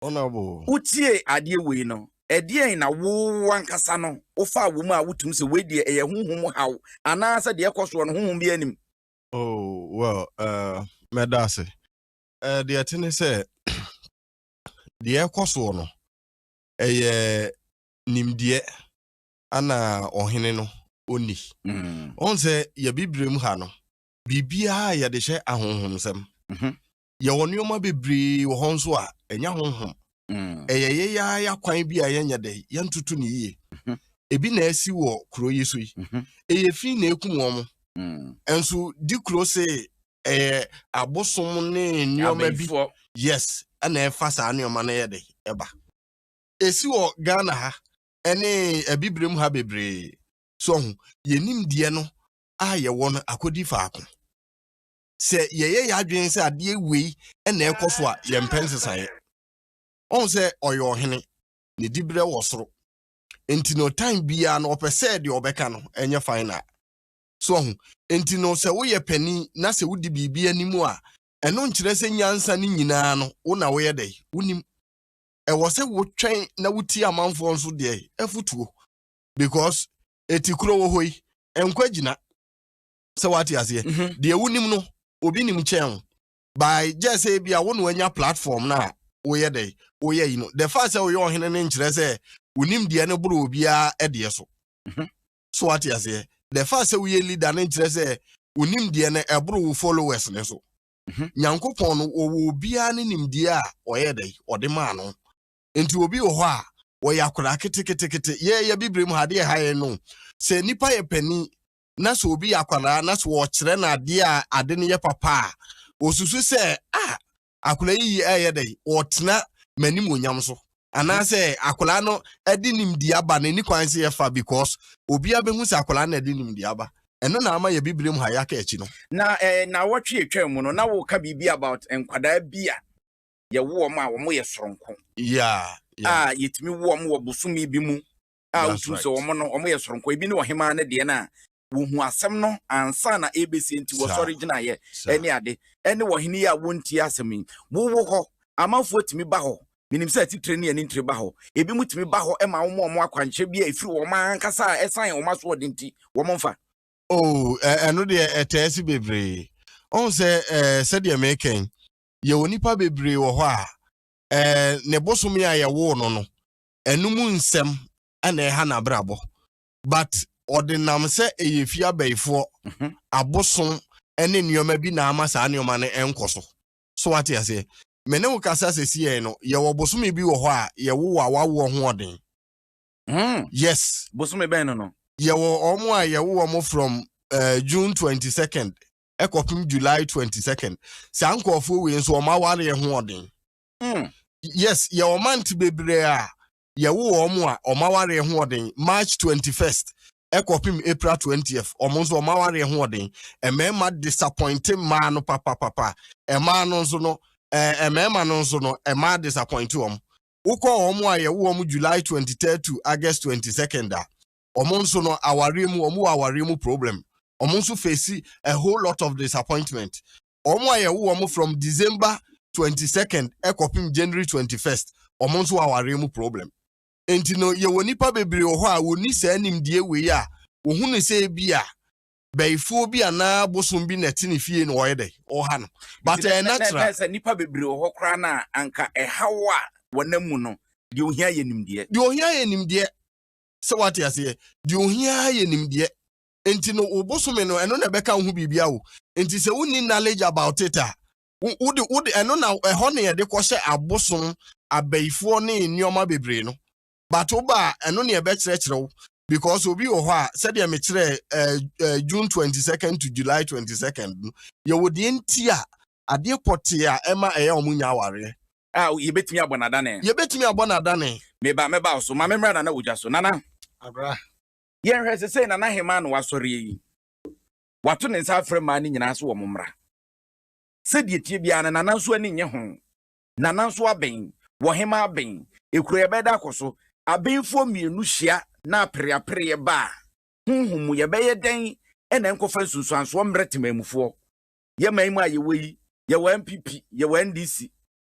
Wotiee adeɛ wei no, ɛdeɛn na wo ankasa no wofaa wɔ mu a wotum sɛ wei deɛ ɛyɛ honhom haw anaasɛ deɛ ɛkɔ soɔ no honhom biara nim? Oh, well, uh, mɛda ase. Uh, deɛ ɛte ne sɛ, deɛ ɛkɔ soɔ no, ɛyɛ nimdeɛ ana ɔhene no ɔnni. Mm. Ɔn sɛ yɛbibire mu ha no, biribiara yɛde hyɛ ahonhomsɛm. Mm -hmm. yɛwɔ nneɛma bebree wɔ hɔ nso a ɛnyɛ honhom mm. ɛyɛ yɛyɛ ya kwan bi a yɛnyɛ dɛ yɛntoto no yie mhm. ebi na ɛsi wɔ kuro yi so yi mhm. ɛyɛ fi na ekum wɔn mm. nso di kuro se ɛyɛ abosom ne nneɛma bi yes ɛna ɛfa saa nneɛma no yɛ dɛ ɛba esi wɔ ghana ha ɛne abibirem ha bebree so ho yɛnim deɛ no a yɛwɔ no akɔdi faako sɛ yɛyɛ yɛn adwene sɛ adeɛ wei na ɛkɔ so a yɛmpɛ nsesaeɛ ɔhu sɛ ɔyɛ ɔhene ne diberɛ wɔ soro nti no time biara no ɔpɛ sɛ deɛ ɔbɛka no ɛnyɛ final so ɔhu nti no sɛ woyɛ panin na sɛ wodi biribi anim a ɛno nkyerɛ sɛ nyansa no nyinaa no wo na woyɛ dɛ wonim ɛwɔ sɛ wotwɛn na wotie amanfoɔ nso deɛ afotuo because ɛti kuro wɔ hɔ yi nkwa gyina sɛ wate aseɛ mhm. deɛ wonim no obi nim kyɛn wo by gyɛ sɛ ebi a wo na wanya platform no a woyɛ dɛ woyɛ yi no the fact sɛ woyɛ ɔhene no nkyerɛ sɛ wonim deɛ no boro obiara ɛdeɛ so mhm. so wate aseɛ the fact sɛ woyɛ leader no nkyerɛ sɛ wonim deɛ no ɛboro wo followers no so mhm. nyankopɔn no ɔwɔ obiara ne nimdeɛ a ɔyɛ dɛ ɔde maa no nti obi wɔ hɔ a wɔyɛ akwadaa keteketekete yɛyɛ bibire mu ha adeɛ ha yɛ no sɛ nipa yɛ panin na sɛ obi yɛ akwadaa na sɛ wɔkyerɛ no adeɛ a ade no yɛ papa a ɔsusu sɛ a ah, akwadaa yi yɛ ɛyɛ dɛ ɔtena m'anim onyam so anaasɛ akwadaa no de nimdeɛ aba na ɛni kwan sɛ yɛfa because obiara bɛhu sɛ akwadaa no de nimdeɛ aba ɛno na ama yɛ bibire mu ha yɛaka akyi no na eh, na wɔtwe atwa mu no na woka biribi about nkwadaa bi a yɛwoɔ m a wɔyɛ soronko yeah, yeah. a yɛtumi woɔ m wɔ bosome bi mu a wosusu sɛ wɔn no wɔyɛ soronko ebi ne ɔhemaa no deɛ no a wohu asɛm no ansa na ɛrebɛsie nti wɔsɔre gyinaeɛ ɛne ade ɛne ɔhene yi a wontie asɛm yi wowɔ hɔ amanfoɔ tumi ba hɔ menim sɛ atitire ne ani ntire ba hɔ ebi mu tumi ba hɔ ma wɔn wɔn akwankyerɛ bi a ɛfiri wɔn ankasa a ɛsan wɔn asoɔden nti wɔn mfa oh ɛno deɛ ɛtɛɛ si bebree ɔhu sɛ sɛdeɛ mekɛn yɛwɔ nipa bebree wɔ hɔ a ne bosome a yɛwoo no no ɛno mu nsɛm ɛna ɛha n'abrabɔ but ɔde nam sɛ ɛyɛ fie abɛɛfoɔ mhm. abosom ɛne nneɛma bi na ama saa nneɛma no ɛnkɔ so so wate aseɛ me ne wo kasa sɛsi yɛn no yɛwɔ bosome bi wɔ hɔ a yɛwo a wawoɔ ho ɔden hmm. yes bosome bɛn no no yɛwɔ wɔn a yɛwo wɔn from uh, june twenty second ɛkɔpem july twenty second saa nkurɔfoɔ wei nso wɔn awareɛ ho ɔden Mm. Yes, yɛ ɔmante bebree a yɛwo wɔn a wɔn awareɛ ho ɔden March 21st ɛkɔpem April 20th wɔn nso wɔn awareɛ ho ɔden mmarima disappointe mmaa no papapapa mmaa no nso no ɛɛ mmarima no nso no mmaa disappointe wɔn wokɔ wɔn a yɛwo wɔn July 23 to August 22nd a wɔn nso no awareɛ mu wɔn wɔ awareɛ mu problem wɔn nso face a whole lot of disappointment wɔn a yɛwo wɔn from december twenty second ɛkɔpem january twenty first wɔn nso wɔ awareɛ mu problem nti no yɛwɔ nipa bebree wɔ hɔ a wɔni saa nimdeɛ wei a wɔhu ne sɛ bi a bɛyifoɔ bi anaa bosom bi na ɛte ne fie na ɔyɛ dɛ ɔha no but ɛyɛ natural sɛ nipa bebree wɔ hɔ koraa na anka ɛhaw a wɔnam mu no deɛ ohia yɛ nimdeɛ deɛ ohia yɛ nimdeɛ sɛ wate aseɛ deɛ ohia ara yɛ nimdeɛ nti no wo bosome no ɛno na ɛbɛka wo ho biribia o nti sɛ wonni knowledge about it a wo- wode wode ɛno na ɛhɔ ne yɛde kɔhyɛ abosom abayifoɔ ne nneɛma bebree no but woba a ɛno ne ɛbɛkyerɛkyerɛ wo because obi wɔ hɔ a sɛdeɛ mekyerɛ eh, eh, june 22nd to july 22nd no yɛwɔ deɛ nti a adeɛ pɔtee a ɛma ɛyɛ ɔmo nya awareɛ A, yɛbɛtumi abɔ no adane. Yɛbɛtumi abɔ no adane. Me ba, mɛba wo so. Ma memmra Nana Ogya so. Nana. Abra. Yɛnhwɛ sesei Nana Hemaa na wasɔreɛ yi. Wato ne nsa afrɛ mmaa no nyinaa sɛ wɔmmra. Sɛdeɛ ɛteɛ biara no, Nana nso ani nnye ho. Nana nso abɛn. Wɔ Hemaa abɛn. Ekuro yɛbɛda akɔ so. Abenfoɔ mmienu hyia na apereapereɛ ba a, honhom mu yɛbɛyɛ dɛn na ɛnkɔfa nsunsuansoɔ mmrɛ Temanmufoɔ? yɛ man mu a yɛwɔ yi, yɛwɔ NPP, yɛwɔ NDC,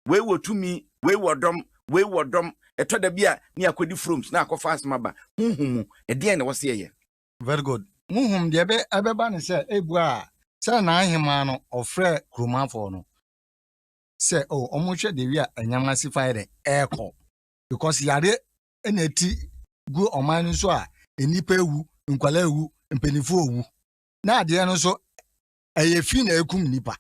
wei wɔ tumi, wei wɔ dɔm, wei wɔ dɔm, ɛtɔ da bi a ne akɔdi froms na akɔfa asɛm aba, honhom mu, ɛdeɛn na ɛwɔ sɛ yɛyɛ? Very good. Honhom deɛ ɛbɛ, ɛbɛba ne sɛ, ebua a, sɛ n'ahemaa no, ɔfrɛɛ kuromanfoɔ no sɛ, o, oh, wɔnhwɛ deɛ wi a ɛnyam ase fa yɛ dɛ, ɛrekɔ. Because yareɛ na ɛti gu ɔman no so a, nnipa awu, nkwadaa awu, mpanimfoɔ awu. Na adeɛ no nso, ɛyɛ fi na ɛkum nnipa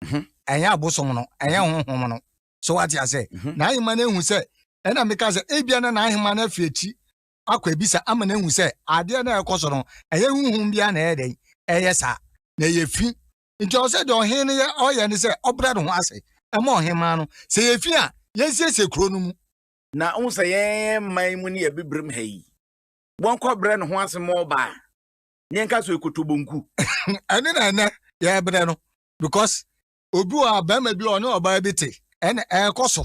mhm. ɛnyɛ abosom no ɛnyɛ mhm. honhom no so wate asɛ mhm. n'ahema no ahu sɛ ɛna meka sɛ ebia na n'ahema no afi akyi akɔ ebisa ama no ahu sɛ adeɛ na ɛkɔ so no ɛyɛ honhom bia na ɛyɛ dɛn ɛyɛ saa na ɛyɛ fi nti ɔsɛ deɛ ɔhen no yɛ ɔyɛ ne sɛ ɔbrɛ ne ho ase ɛma ɔhema no sɛ yɛ fi a yɛnsiesie kuro no mu na wohu sɛ yɛn man mu ne yɛbibirim ha yi wɔnkɔbrɛ ne ho ase ma ɔbaa ne nka so ekoto bonku. ɛne na ɛnɛ yɛbrɛ no because obi wɔ a bɛrima bi ɔne ɔbaa bi te ɛna ɛrekɔ so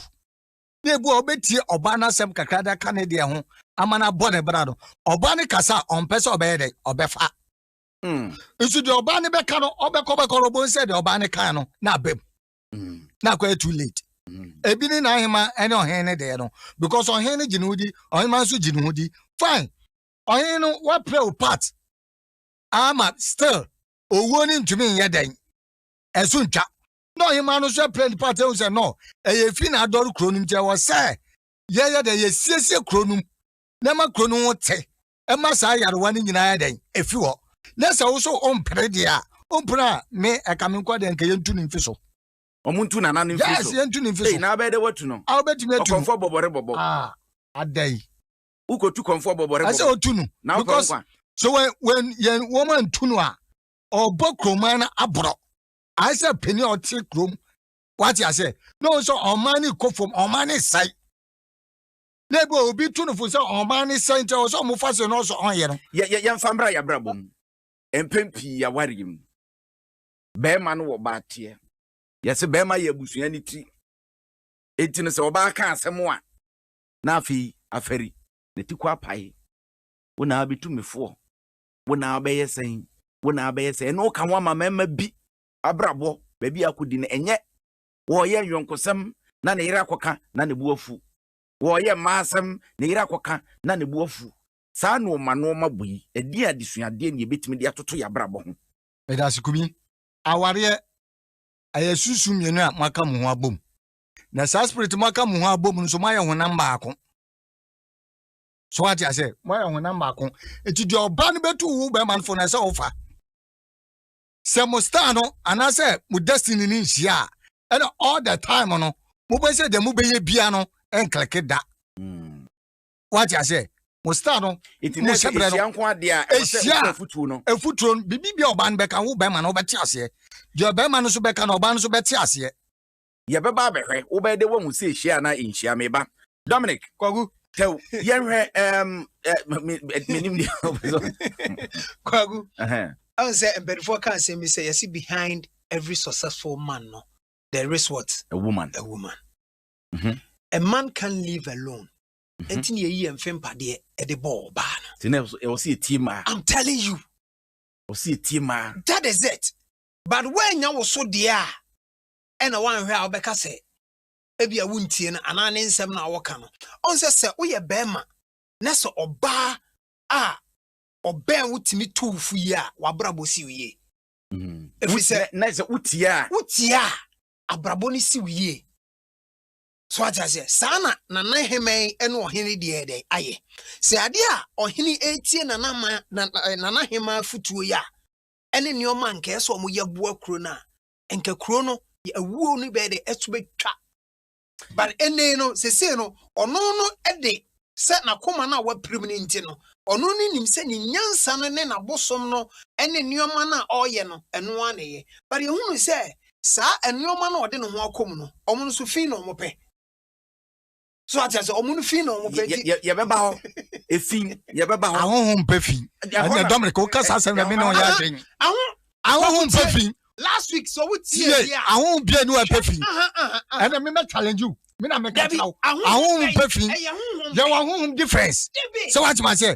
na ebi a ɔbɛtie ɔbaa no asɛm kakra de aka ne deɛ ho ama no abɔ ne bra no ɔbaa no kasa a ɔmpɛ sɛ ɔbɛyɛ dɛ ɔbɛfa hmm. nso deɛ ɔbaa no bɛka no ɔbɛkɔ bɛkɔ no ɔbɛn sɛ deɛ ɔbaa no kan no na abam hmm. na akɔ yɛ too late hmm. ebi ne n'ahema ɛne ɔhen ne deɛ no because ɔhen no gye ne ho di ɔhema nso gye ne ho di fine ɔhene no wapere wo part ama still owuo no ntumi nyɛ dɛn ɛso ntwa na ɔhema no nso apere ne part ehu sɛ no ɛyɛ fi na adɔre kuro no mu kyɛ wɔ sɛ yɛyɛ dɛ yɛsiesie kuro no mu na ɛma kuro no ho te ɛma saa yarewa no nyinaa yɛ dɛn efi hɔ na sɛ wo so ɔmpere deɛ a ɔmpere a me ɛka me nkɔ deɛ nka yɛntu ne mfi so wɔn ntu nana no mfiri so yes yɛntu ne mfi so na abɛɛ dɛ watu no a wobɛtumi atu no ɔkɔmfɔ bɔbɔre bɔbɔ ah, adɛn wokotu kɔnfoɔ bɔbɔre bɔbɔ. Ɛsɛ otu no. Na ɔkɔ nkwa. So when when yɛn wɔn antu no a, ɔbɔ kuroman no aborɔ. Ayɛ sɛ panin a ɔte kurom. Wate aseɛ? Na ɔn sɛ ɔman no kɔ fam, ɔman no sɛe. Na ebi obi tu no fo sɛ ɔman no sɛe nti ɔsɛ ɔmo fa se na ɔsɛ ɔnyɛ no. Yɛ yɛ yɛnfa mbra yɛ abrabɔ mu. Mpɛn pii awareɛ mu. Bɛrima no wɔ ɔbaa teɛ. Yɛse bɛrima yɛ abusua no tiri. Enti no sɛ ɔbaa ka asɛm a. na afei afɛri. Ne ti kɔ apae. Wo na abɛtu me foɔ. Wo na abɛyɛ sɛn? Wo na abɛyɛ sɛn? Ɛno woka ho ama mmarima bi abrabɔ, baabi a akɔdi no. Ɛnyɛ wɔreyɛ nyɔnkosɛm na ne yere akɔka na ne bo afu. Wɔreyɛ mmaa asɛm, ne yere akɔka na ne bo afu. Saa nnoɔma nnoɔma bɔ yi, ɛdeɛn adesuadeɛ na yɛbɛtumi de atoto yɛn abrabɔ ho? Medase Kumi. Awareɛ, ɛyɛ sunsum mmienu a moaka mo ho abom. na saa spirit mo aka mo ho abɔ mu nso moayɛ honam baako so wate ase moayɛ honam baako eti deɛ ɔba no bɛtu wo bɛrima no fo na ɛsɛ wofa sɛ mo star no anaasɛ mo destiny no nhyia a ɛna all the time no mobɛ sɛ deɛ mobɛyɛ bia no ɛnkleke da hmm. wate ase mo star no mo hyɛbrɛ no ɛhyia afutuo no biribi bia ɔba no bɛka wo bɛrima no wobɛte aseɛ deɛ ɔbɛrima no nso bɛka no ɔba no nso bɛte aseɛ Yɛbɛba abɛhwɛ. Wobɛyɛ dɛ woahu sɛ ehyia anaa enhyia, me ba. Dominic, Kwaku, tɛw, yɛnhwɛ, ɛɛm, ɛ, me, ɛ, menim deɛ wopɛ sɛ Kwaku, Ɛhɛn. ɛhu sɛ mpanimfoɔ ka asɛm bi sɛ yɛse behind every successful man no, there is what? A woman. A woman. Mhm. A man can't live alone. Ɛnti na yɛyi yɛn mfe mpadeɛ ɛde bɔ ɔbaa no. Nti na ɛwɔ sɛ- ɛwɔ sɛ yɛtie mmaa. I'm telling you, Ɛwɔ sɛ yɛtie mmaa. that is it. But woannya wo so deɛ a, na woanhwɛ a wobɛka sɛ ebia wontie no anaa ne nsɛm no a ɔka no. Ɔn sɛ sɛ woyɛ barima na sɛ ɔbaa a ɔbɛn wo tumi to wo fo yie a, w'abrabɔ siw yie. Ɛfiri sɛ, na sɛ wotie a. Wotie a, abrabɔ no siw yie. So ate aseɛ? Saa na Nana Ahemman ne ɔhene deɛ yɛ dɛn ayɛ. Sɛ adeɛ a ɔhene retie Nana ma, Nana Ahemman afotuo yi a ɛne nneɛma a nka ɛsɛ wɔyɛ boa kuro no a, nka kuro no yɛ awuo no bɛyɛ dɛ ɛso bɛtwa but ɛnɛ no sesei no ɔno no de sɛ n'akoma no a wapirim no nti no ɔno no nim sɛ ne nyansa no ne n'abosom no ne nneɛma no a ɔreyɛ no ɛno ara na ɛyɛ but yɛhunu sɛ saa nneɛma no a ɔde ne ho akɔm no ɔmo no so fi na ɔmo pɛ so ate ase ɔmo no fi na ɔmo pɛ ti. yɛbɛba hɔ efi yɛbɛba hɔ. ahoho mpɛ fi ɛnna dominic o kasa asɛm na mi na ɔyɛ adwene. ahoho mpɛ fi. last week sọ wọ́n ti yẹ yẹ. ahoho bie ni wọ́n pẹ fi. ẹnna mi mẹ challenge you mi na mi ka kyerɛ wo ahohom pɛ fi yɛwɔ ahohom difference sɛ woatema sɛ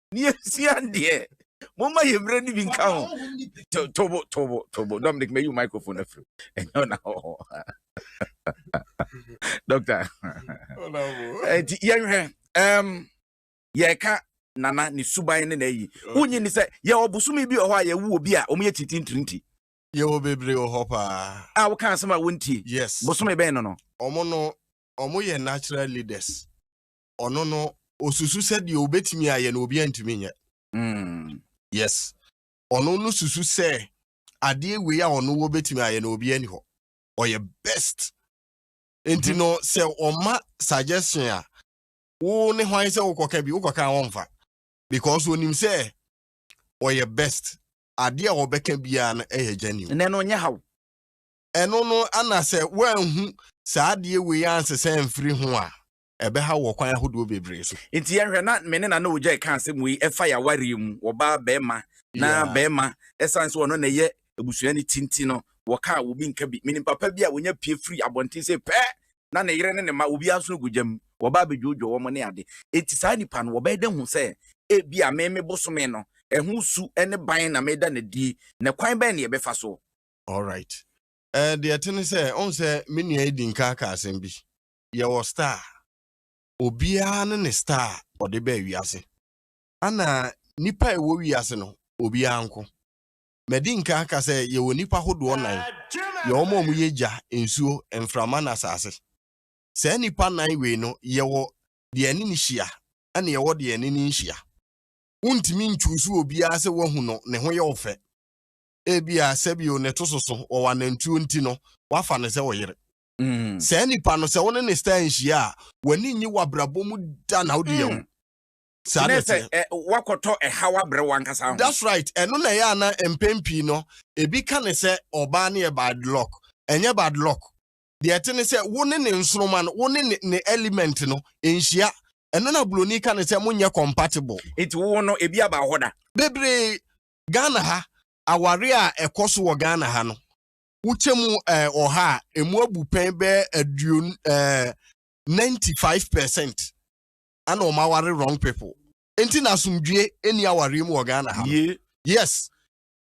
ne yɛsua deɛ momma yɛ mmerɛ no bi nka ho tobo tobo tobo dominic mayi wo microphone afiri ɛnyɛ ɔna hɔ dɔkta nti yɛnhwɛ yɛka nana ne suban ne na ayi wonyi ne sɛ yɛwɔ bosome bi wɔ hɔ a yɛwo obi a ɔmo yɛ titintirinti yɛwɔ bebree wɔ hɔ paa a woka asɛm a wontie yes bosome bɛn no no ɔmo no ɔmo yɛ natural leaders ɔno no osusu sɛ deɛ obetumi ayɛ no obi antumi nyɛ mm. yes ɔno no susu sɛ adeɛ wei a ɔno wɔ betumi ayɛ no obi ani hɔ ɔyɛ best nti no mm-hmm. sɛ ɔma suggestion a wo ne hwan sɛ wokɔka bi wokɔka a wɔmfa because onim sɛ ɔyɛ best adeɛ a wɔbɛka biara no ɛyɛ genuine ɛnɛ no ɔnyɛ haw ɛno no ana sɛ woanhu saa adeɛ wei ansesɛ mfiri ho a ɛbɛhaw wɔ kwan ahodoɔ bebree so. Nti yɛnhwɛ na me ne Nana Ogyai ka asɛm wei ɛfa yɛn awareɛ mu, ɔbaa, barima, na barima ɛsiane sɛ ɔno na ɛyɛ abusua no ti nti no, wɔka a obi nka bi. Menim papa bi a ɔnya pue firi abɔnten sei pɛ na ne yere ne ne mma obiara nso gu gya mu, wɔba abɛdwoodwoo wɔn ne ade. Nti saa nipa no wɔbɛyɛ dɛn ahu sɛ ebia me me bosome no ɛho su ne ban na meda no adie, na kwan bɛn na yɛbɛfa so? Alright, deɛ ɛte ne sɛ, wohu sɛ me nua yi di nka aka asɛm bi. Yɛwɔ star. Obiara ne ne star a ɔde baa wiase. Ana nnipa a ɛwɔ wiase no, obiara nko? Madi nkan aka sɛ yɛwɔ nnipa hodoɔ nnan. Yɛwɔ wɔn a wɔyɛ gya, nsuo, mframa ne asase. Saa nnipa nnan wei no, yɛwɔ deɛ ɛne no hyia ɛna yɛwɔ deɛ ɛne no nhyia. Wontumi nchuusu obiara sɛ woahu no, ne ho yɛ wo fɛ. Ebia, sɛbio, ne to soso, ɔwɔ anantuo nti no, woafa no sɛ wo yere. Mm. Saa nipa no sɛ wo ne ne style nhyia a, w'ani nye w'abrabɔ mu da na wode yɛ wo. Saa na ɛteɛ. Sɛ wakɔtɔ ɛhaw abrɛ wankasa ho. That's right. Ɛno na ɛyɛ a na mpɛn pii no ebi ka ne sɛ ɔbaa no yɛ bad luck. Ɛnyɛ bad luck. Deɛ ɛte ne sɛ wo ne ne nsoroma no, wo ne ne, ne element no nhyia. Ɛno na buroni ka ne sɛ monyɛ compatible. Eti wo no ebi aba hɔ da. Bebree. Ghana ha, aware a ɛkɔ so wɔ Ghana ha no, wokyɛ mu ɛɛ eh, ɔha a emu abu pɛn bɛyɛ aduon ɛɛ eh, ninety five percent ɛna wɔn aware wrong people nti na asomdwie ɛni awareɛ mu wɔ ghana ha yes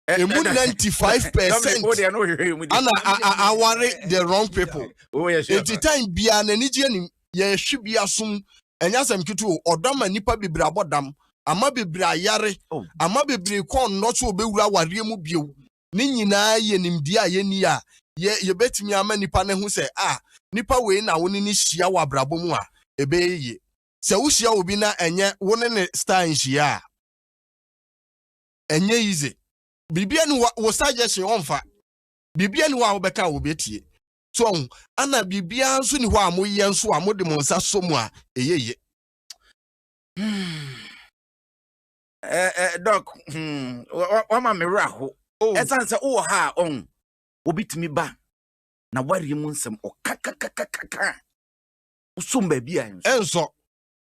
emu ninety five percent ɛna aware the wrong people nti time biara n'ani gye anim yɛhwe bi asom ɛnyɛ asɛm ketewa ɔdɔ ama nipa bebree abɔ dam ama bebree ayare oh. ama bebree kɔn nnɔ so ɔbɛwura awareɛ mu bio. ne nyinaa yɛ nimdeɛ a yenni a yebetumi ama nnipa no ahu sɛ, a, nipa wei na wo ne no hyia wɔ abrabɔ mu a, ɛbɛyɛ yiye. Sɛ wuhyia obi na ɛnyɛ wo ne ne style nhyia a, ɛnyɛ easy. Biribiara nni hɔ a wo suggestion ɔmfa. Biribiara nni hɔ a wobɛka a obetie. So ɔho? Ana biribiara nso nni hɔ a moyɛ nso a mode mo nsa sɔ mu a ɛyɛ ye? Hmm. ɛɛ dɔk hmm wama me werɛ aho oh. ɛsan sɛ wowɔ ha a ɔn obi tumi ba na wareɛ mu nsɛm ɔkakakakaka wosom baabi a ɛnsɔ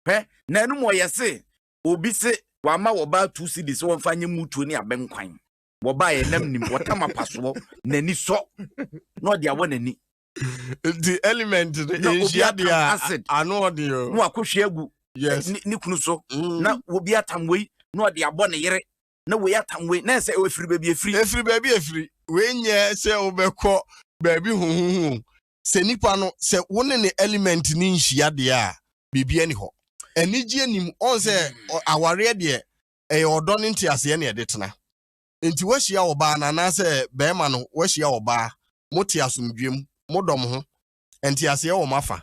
hwɛ na ɛnom ɔyɛ se obi se wama wɔbaa tu si de sɛ wɔmfa nyɛ mutuo ne abɛnkwan wɔbaa yɛ nam nim wɔtam apasoɔ n'ani sɔ na ɔde awɔ n'ani nti element no nhyia deɛ a ano ɔden o na wakɔhwie agu ne kunu so mm. na obi atam wei na ɔde abɔ ne yere na wei atam wei na ɛsɛ ɛfiri baabi ɛfiri ɛfiri baabi ɛfiri wei nyɛ sɛ wobɛkɔ baabi hohoho sɛ nipa no sɛ wo ne ne element no nhyia deɛ a biribi ani hɔ anigye anim ɔn sɛ mm. awareɛ deɛ ɛyɛ ɔdɔ ne nteaseɛ ne ɛde tena Enti woahyia ɔbaa no anaasɛ barima no woahyia ɔbaa, mote asomdwoe mu, modɔ mo ho, nteaseɛ wɔ mo afa.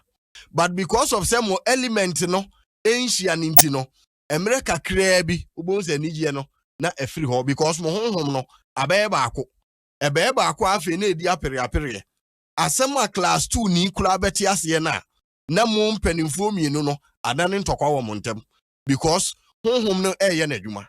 But because of sɛ mo element no nhyia no nti no, mmerɛ kakraa bi wobɛhu sɛ anigyeɛ no na afiri hɔ because mo honhom no abɛyɛ baako. Ɛbɛyɛ baako a afei na ɛdi apereapereɛ. Asɛm a class two ni koraa bɛte aseɛ no a na mo mpanimfoɔ mmienu no adane ntɔkwa wɔ mo ntam because honhom no reyɛ n'adwuma.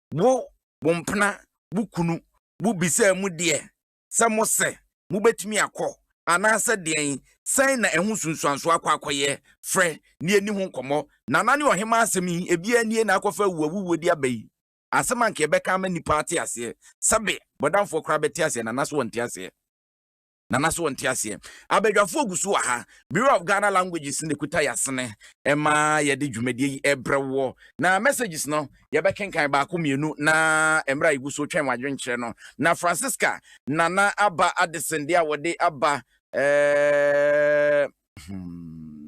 wo, wo mpena, wo kunu, wo bisaa mu deɛ sɛ mo sɛ mo bɛtumi akɔ anaasɛ deɛn, sɛn na ɛho nsunsuansoɔ akɔ akɔyɛ, frɛ na yɛni ho nkɔmmɔ. Nana ne ɔhemaa asɛm yi, ebiara nie na akɔfa awu awuwuo de aba yi, asɛm a anka yɛbɛka ama nnipa ate aseɛ, sɛbe bɔdamfoɔ koraa bɛte aseɛ, Nana so wɔnte aseɛ. Nana so ɔnte aseɛ. Abadwafoɔ gu so wɔ ha. Bureau of Ghana Languages na ɛkuta yɛasene ma yɛde dwumadie yi brɛ woɔ. Na messages no, yɛbɛkenkan baako mmienu na mmerɛ a yɛgu so twɛn wɔn adwenkyerɛ no. Na Francisca Nana aba Addison deɛ a wɔde aba eh, hmm.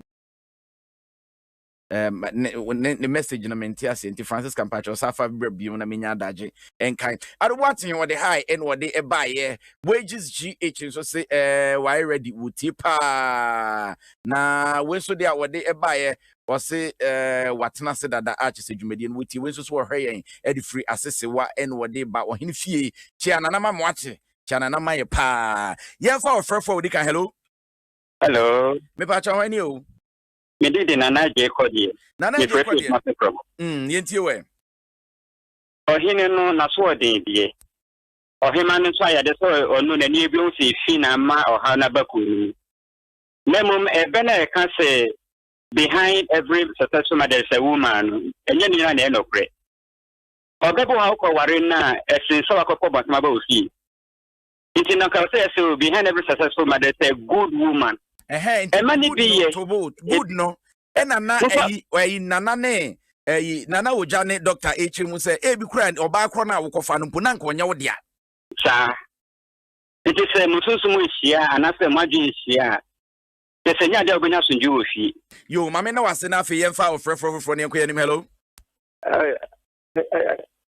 um, ne, ne, ne message no mente ase nti francisca mpakyɛ ɔsa afa berɛ bio na menya adagye nkan adoboaten wɔde hae ɛne wɔde ɛbaeɛ wages gh nso se eh, wae ready wɔtie paa na wei nso de a wɔde ɛbaeɛ wɔse eh, watena ase dada akyɛ sɛ dwumadie no wɔtie wei nso so wɔhwɛ yɛn ɛde firi asesewa ɛne wɔde ba ɔhene fie kyea nanama moakye kyea nanama yɛ paa yɛmfa ɔfrɛfoɔ a wɔdi kan hello hello mepakyɛ hɔ ani o me de de nana agye kɔ deɛ. Nana agye kɔ deɛ. Mefrɛ fie Mm, yɛn tie wɛ. Ɔhene no n'asoɔden deɛ. Ɔhema no nso ayɛ de sɛ ɔno n'ani ebi ho sɛ fi na ama ɔhaw n'aba kuo no mu. Na mmom ɛbɛ na ɛka sɛ behind every successful man there is a woman no, ɛnyɛ ne nyinaa na ɛyɛ nɔkorɛ. Ɔbɛbo ha wokɔ ware no a, ɛsen sɛ wakɔpɔ bɔnsɛm aba wo fie. Nti na nka sɛ yɛ sɛ behind every successful mother is a good woman. Ɛhɛn nti ɛma ne bi yɛ good no ɛna na ɛyi ɛyi nana ne ɛyi nana ogya ne dɔkta ekyir mu sɛ ebi kura ɔbaa korɔ na awokɔfa no mpo na nka ɔnyɛ wo dea. Saa nti sɛ mo sunsun mu ehyia anaasɛ mo adwene ehyia a sɛ sɛ nyɛ ade a wobɛnya asomdwe wɔ fie. Yo maame na wase na afei yɛmfa ɔfrɛfrɛ foforɔ ne ɛnkɔ yɛnim hello.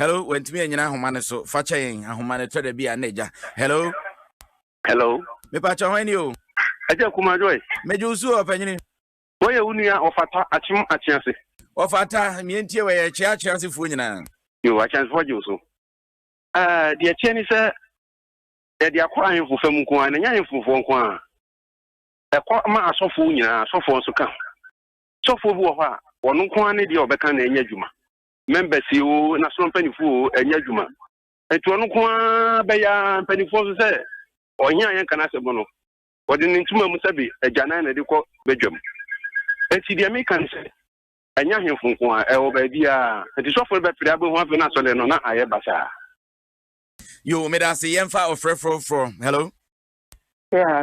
Hello, wantumi anyina ahoma no so. Fa kyɛ yɛn ahoma no tɔ da bi a na agya. Hello. Hello. Mepakyɛ hwan ni o? Agya Kuma Joyce. Megye wo so ɔpanyini. Wɔyɛ wo nua ɔfata akyem akye ase. Ɔfata mmea ntie wɔ yɛ kye akye asefoɔ nyinaa. Yo, akye asefoɔ gye wo so. Uh, deɛ kyeɛ ni sɛ yɛde akɔ ahemfo fam nko ara na ɛnyɛ ahemfofoɔ nko ara ɛkɔ ma asɔfoɔ nyinaa asɔfoɔ nso ka sɔfoɔ bi wɔ hɔ a wɔn nko ara ne deɛ ɔbɛka na ɛnyɛ adwuma members yi o national mpanimfoɔ o ɛnyɛ adwuma nti ɔno nko ara bɛyɛ mpanimfoɔ nso sɛ ɔhene a yɛnka no asɛm no wɔde ne ntoma mu sɛbe agyanan na ɛde kɔ badwam nti deɛ meka no sɛ ɛnyɛ ahemfo nko a ɛwɔ baabi a nti sɔfo no bɛpere abɛhu afei no asɔre no na ayɛ basaa yo meda ase yɛmfa ɔfrɛ foroforɔ hello yeah,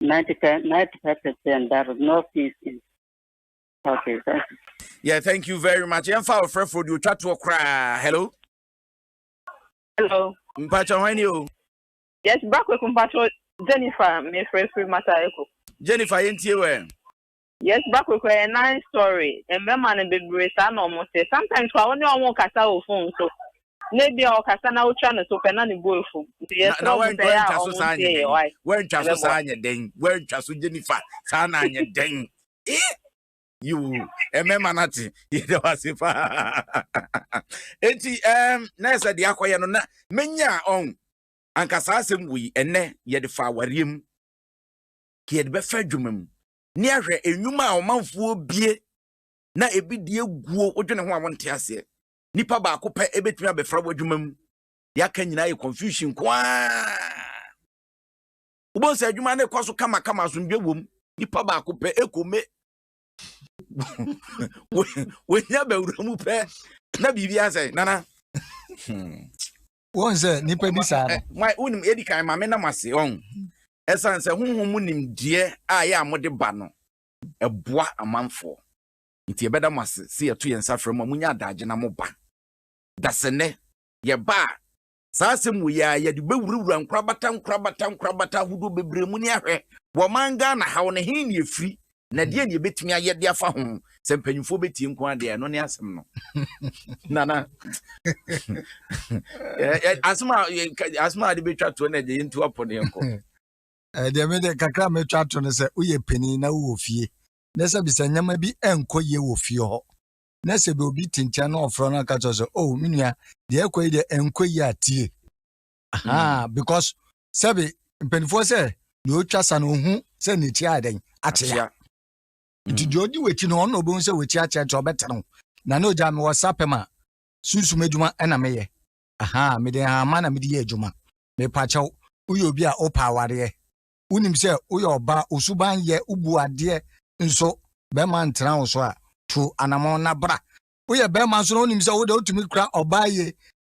95 95 percent that is no fees in okay thank you. yeah thank you very much yɛn fa ɔfrɛ fo di otwa toɔ koraa hello. hello. mpatsɔ hɔn ni o. yes baako ekun mpatsɔ jennifer mefrɛ firi mata eko. jennifer yɛn tie wɛ. Yes ba kura kura yɛ nan sorry mmarima no bebree saa na ɔmo te sometimes kura ɔne ɔmo kasa wɔ phone so na ebi a ɔkasa na otwa ne so pɛ na ne bo efu nti yɛ srɛ ɔmo sɛ yɛ a ɔmo ntie yɛ wai ɛbɛ boa saa nyɛ den wɛntwa so Jennifer saa na nyɛ den ee yiwu mmarima no ate yɛ dɛ wase paa eti ɛɛm na ɛsɛ de akɔyɛ no na menya ɔn anka saa asɛm wɔ yi ɛnɛ yɛde fa awareɛ mu kɛ yɛde bɛfa adwuma mu ne ahwɛ nnwuma a ɔmanfoɔ bie na ebi deɛ guo wodwene ho a wonte aseɛ nipa baako pɛ ebɛtumi abɛfra w'adwuma mu deɛ aka nyinaa yɛ confusion ko ara wobɛhu sɛ adwuma no kɔ so kamakama asomdwe wom nipa baako pɛ ɛkɔme wɔhia bawura mu pɛ na biribi asɛ nana hmm. wɔn sɛ nipa bi saa no. nwa wonim edi kan maame nam ase wɔn ɛsan sɛ honhom mu nimdeɛ a yɛ a mode ba no ɛboa amanfoɔ nti yɛbɛda mo ase sɛ yɛto yɛn nsa frɛ mu a monya adagye na mo ba dasɛnɛ yɛba a saa asɛm wɔ yɛ a yɛde bɛwurawura nkorabata nkorabata nkorabata ahodoɔ bebree mu ne ahwɛ wɔ man ghana haw no he ne ɛfiri na deɛ ne yɛbɛtumi ayɛ de afa ho sɛ mpanyimfoɔ bɛtie nko adeɛ ɛno ne asɛm no nana asɛm a asɛm a de bɛtwa toɔ na ɛgye yɛntu apɔ ne yɛnkɔ deɛ mede kakra mɛtwa to no sɛ woyɛ panin na wowɔ fie na sɛ bisɛ nneɛma bi ɛnkɔ yie wɔ fie hɔ na sɛ bi obi te nkyɛn na ɔfrɛ no aka kyerɛ sɛ o oh, me nua deɛ ɛkɔ yi deɛ ɛnkɔ yie atie ahaa mm. because sɛbi mpanimfoɔ sɛ deɛ ɔtwa sa no ɔhu sɛ n'akyi ayɛ dɛn akyea nti deɛ ɔdi w'akyi no ɔno ɔbɛhu sɛ w'akyi akyea nti ɔbɛte no na ne ɔgya mewɔ sa pɛ ma sunsum adwuma ɛna meyɛ ahaa mede hama na mede yɛ adwuma mepakyɛw woyɛ obi a wopɛ awareɛ wonim sɛ woyɛ ɔbaa osuban yɛ wobu adeɛ nso bɛrima ntena wo so a tu anamɔ na bra woyɛ bɛrima nso na wonim sɛ wode wotumi kura ɔbaa yie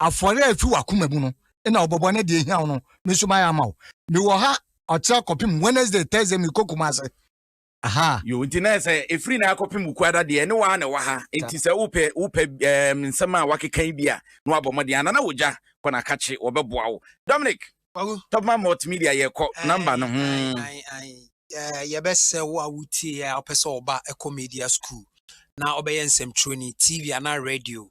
afɔre a efi w'akoma mu no na wobɛbɔ na deɛ ehia wo no me nso mayɛ ama wo mewɔ ha ɔkyerɛ kɔpem wednesday thursday mekɔ kuma ase aha yo nti na sɛ efiri na akɔpem wukuada deɛ ne waa na ɛwɔ ha nti sɛ wopɛ wopɛ ɛɛm nsɛm a wakeka yi bi a na wabɔ mmɔden anana wogya kɔ na akakye wɔbɛboa wo dominic topman multimedia yɛkɔ namba no ho yɛbɛsɛ wo a wotie yɛ a wopɛ sɛ ɔba ɛkɔ media school na ɔbɛyɛ nsɛmtwerɛni tv anaa radio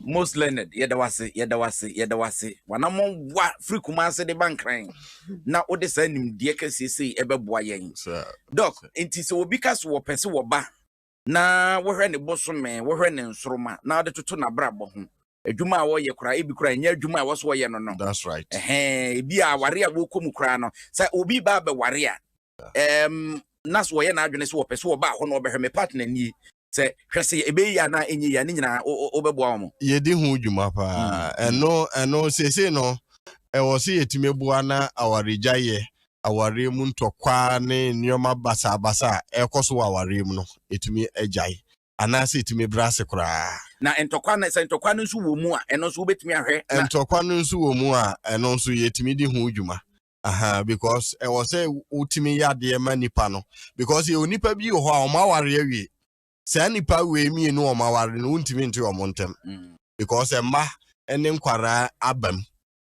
Most learned, yɛda wase, yɛda wase, yɛda wase. Wanamɔ wa firi Kumase de ba Nkran na wode saa nimdeɛ kɛseɛ sei ɛbɛboa yɛn. Doc, nti sɛ obi ka so wɔpɛ se wɔba na wɔhwɛ ne bosome, wɔhwɛ ne nsoroma na wɔde toto n'abrabɔ ho. Adwuma a wɔyɛ koraa, ebi koraa ɛnyɛ adwuma a ɛwɔ so wɔyɛ no no. That's right. Ɛhɛn, ebi a aware a wɔkɔ mu koraa no, sɛ obi ba abɛware a, um, na so wɔyɛ n'adwene sɛ wɔpɛ so wɔba hɔ na wɔbɛhwɛ me partner nie sɛ hwɛ sɛ ɛbɛyɛ yie anaa ɛnyɛ yie a ne nyinaa wobɛboa wɔn. yɛdi ho dwuma paa mm, mm. ɛno ɛno seesei no ɛwɔ sɛ yɛtumi boa na awaregyaeɛ awareɛ mu ntɔkwaa ne nneɛma basabasa a ɛrekɔ so wɔ awareɛ mu no ɛtumi agyae anaasɛ ɛtumi brɛ ase koraa na ntɔkwa no sɛ ntɔkwa no nso wɔ mu a ɛno nso wobɛtumi ahwɛ ntɔkwa no nso wɔ mu a ɛno nso yɛtumi di ho dwuma Aha, because ɛwɔ sɛ wotumi yɛ adeɛ ma nipa no because yɛwɔ nipa bi wɔ hɔ a wɔn aware awie saa nipa wei mmienu wɔn aware no wontumi nte wɔn ntɛm mm. because ɛma ne nkwaraa abam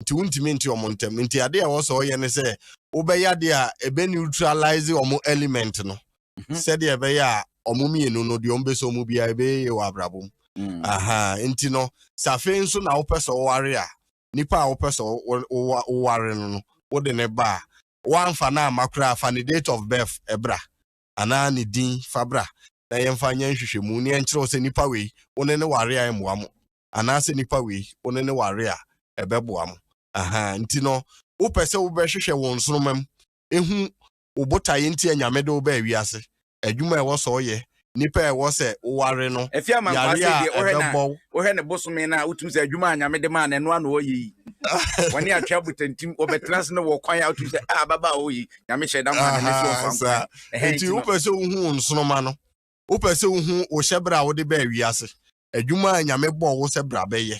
nti wontumi nte wɔn ntɛm nti adeɛ a ɛwɔ sɛ ɔyɛ ne sɛ wobɛyɛ adeɛ a ɛbɛ neutralize wɔn element no mhm. sɛdeɛ ɛbɛyɛ a wɔn mmienu no deɛ wɔn bɛ sɛ wɔn biara ɛbɛyɛ wɔ abrabɔ mu mm. aha nti no safe nso na wopɛ sɛ ɔware a nipa a wopɛ sɛ woware no no, wode ne ba a, woamfa no amma koraa fa ne date of birth bra anaa ne din fa bra na yɛmfa nyɛ nhwehwɛmu na yɛnkyerɛ wo sɛ nipa wei wo ne ne ware a ɛmmoa mo anaasɛ nipa wei wo ne ne ware a ɛbɛboa mo. Aha, nti no wopɛ sɛ wobɛhwehwɛ wɔn nsoromma mu ehu wo botaeɛ nti a Nyame de wo baa wiase, adwuma a ɛwɔ sɛ ɔyɛ, nnipa a ɛwɔ sɛ wo ware no, Ɛfie ama nkwa yareɛ sei a deɛ wohwɛ na ɛbɛbɔ wo. wohwɛ ne bosome no a wotumi sɛ adwuma a Nyame de maa no ɛno ara na ɔyɛ yi wɔne atwea botantim wɔbɛtena ase no wɔ kwan a wotumi sɛ ah ababaa hɔ yi Nyame hyɛ da maa no ne so Ahaa, ɔmfa nkwan saa. ɛhɛn Nti nti no wopɛ sɛ wohu wo nsoroma no, wopɛ sɛ wohu wo hyɛbrɛ a wode baa wiase, adwuma a Nyame bɔɔ wo sɛ bra bɛyɛ.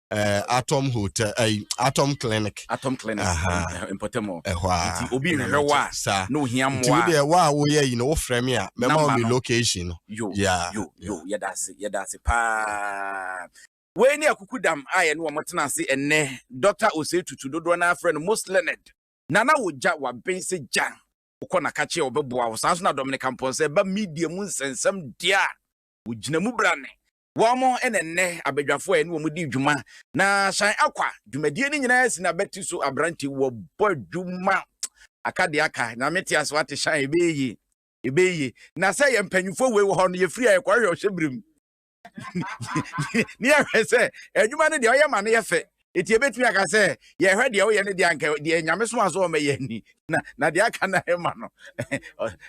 eh, atom hotel eh, atom clinic atom clinic mpɔtam hɔ ɛhɔ a nti obi nhwɛ wɔ a saa na ohia mmoa nti wo deɛ wɔ a woyɛ yi no wofrɛ me a mɛma wo me location no yo yeah. yo yo yɛda ase yɛda ase paa wei ne akuku dam a yɛne wɔn tena ase ɛnɛ dɔkta osei tutu dodoɔ no afrɛ no most learned nana wogya waben sɛ gya wokɔ nakakye a wɔbɛboa wo saa nso na dominic mpɔnsɛ ba media mu nsɛnsɛm deɛ a wɔgyina mu brane Wɔn na nnɛ abadwafo a ɛne wɔn di dwuma na San Akwa dwumadie no nyinaa si n'abati so aberante wɔbɔ adwuma aka de aka nyame te ase wate San ɛbɛyɛ yie ɛbɛyɛ yie na sɛ yɛ mpanyinfoɔ wei wɔ hɔ no yɛfiri a yɛkɔhwɛ ɔhyɛ birim ne yɛhwɛ sɛ adwuma no deɛ ɔyɛ ma no yɛ fɛ Enti yɛbɛtumi aka sɛ yɛhwɛ deɛ woyɛ no deɛ anka deɛ nyame soma so ɔmɛyɛ ni na na deɛ aka na ɛma no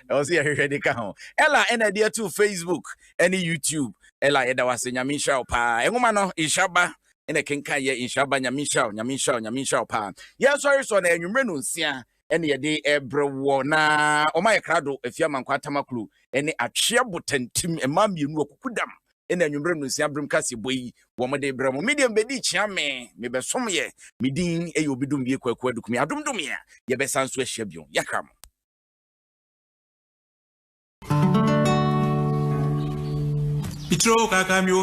ɛwɔ sɛ yɛhwehwɛ de ka ho ɛla ɛna ɛde ato facebook ɛne youtube ɛla yɛda wo ase nyame nhyira wo paa ɛnwoma no nhyira ba ɛna kenkan yɛ nhyira ba nyame nhyira wo nyame nhyira wo nyame nhyira wo paa yɛnsɔre sɔ na anwummerɛ no nsia ɛne yɛde ɛbrɛ woɔ na wɔn ayɛ krado efi amankwa atamakulu ɛne atweɛ botantim mmaa mmienu akuku dam ɛna anwummerɛ nonsia berem kase bɔ yi wɔn de brɛ mo medeɛ mbɛdi kyea me mebɛsom yɛ medin ɛyɛ obi dom wie kwaku adukumi adom dom yɛ yɛbɛsan so ahyia bio yɛkra mo Itro kaka mi o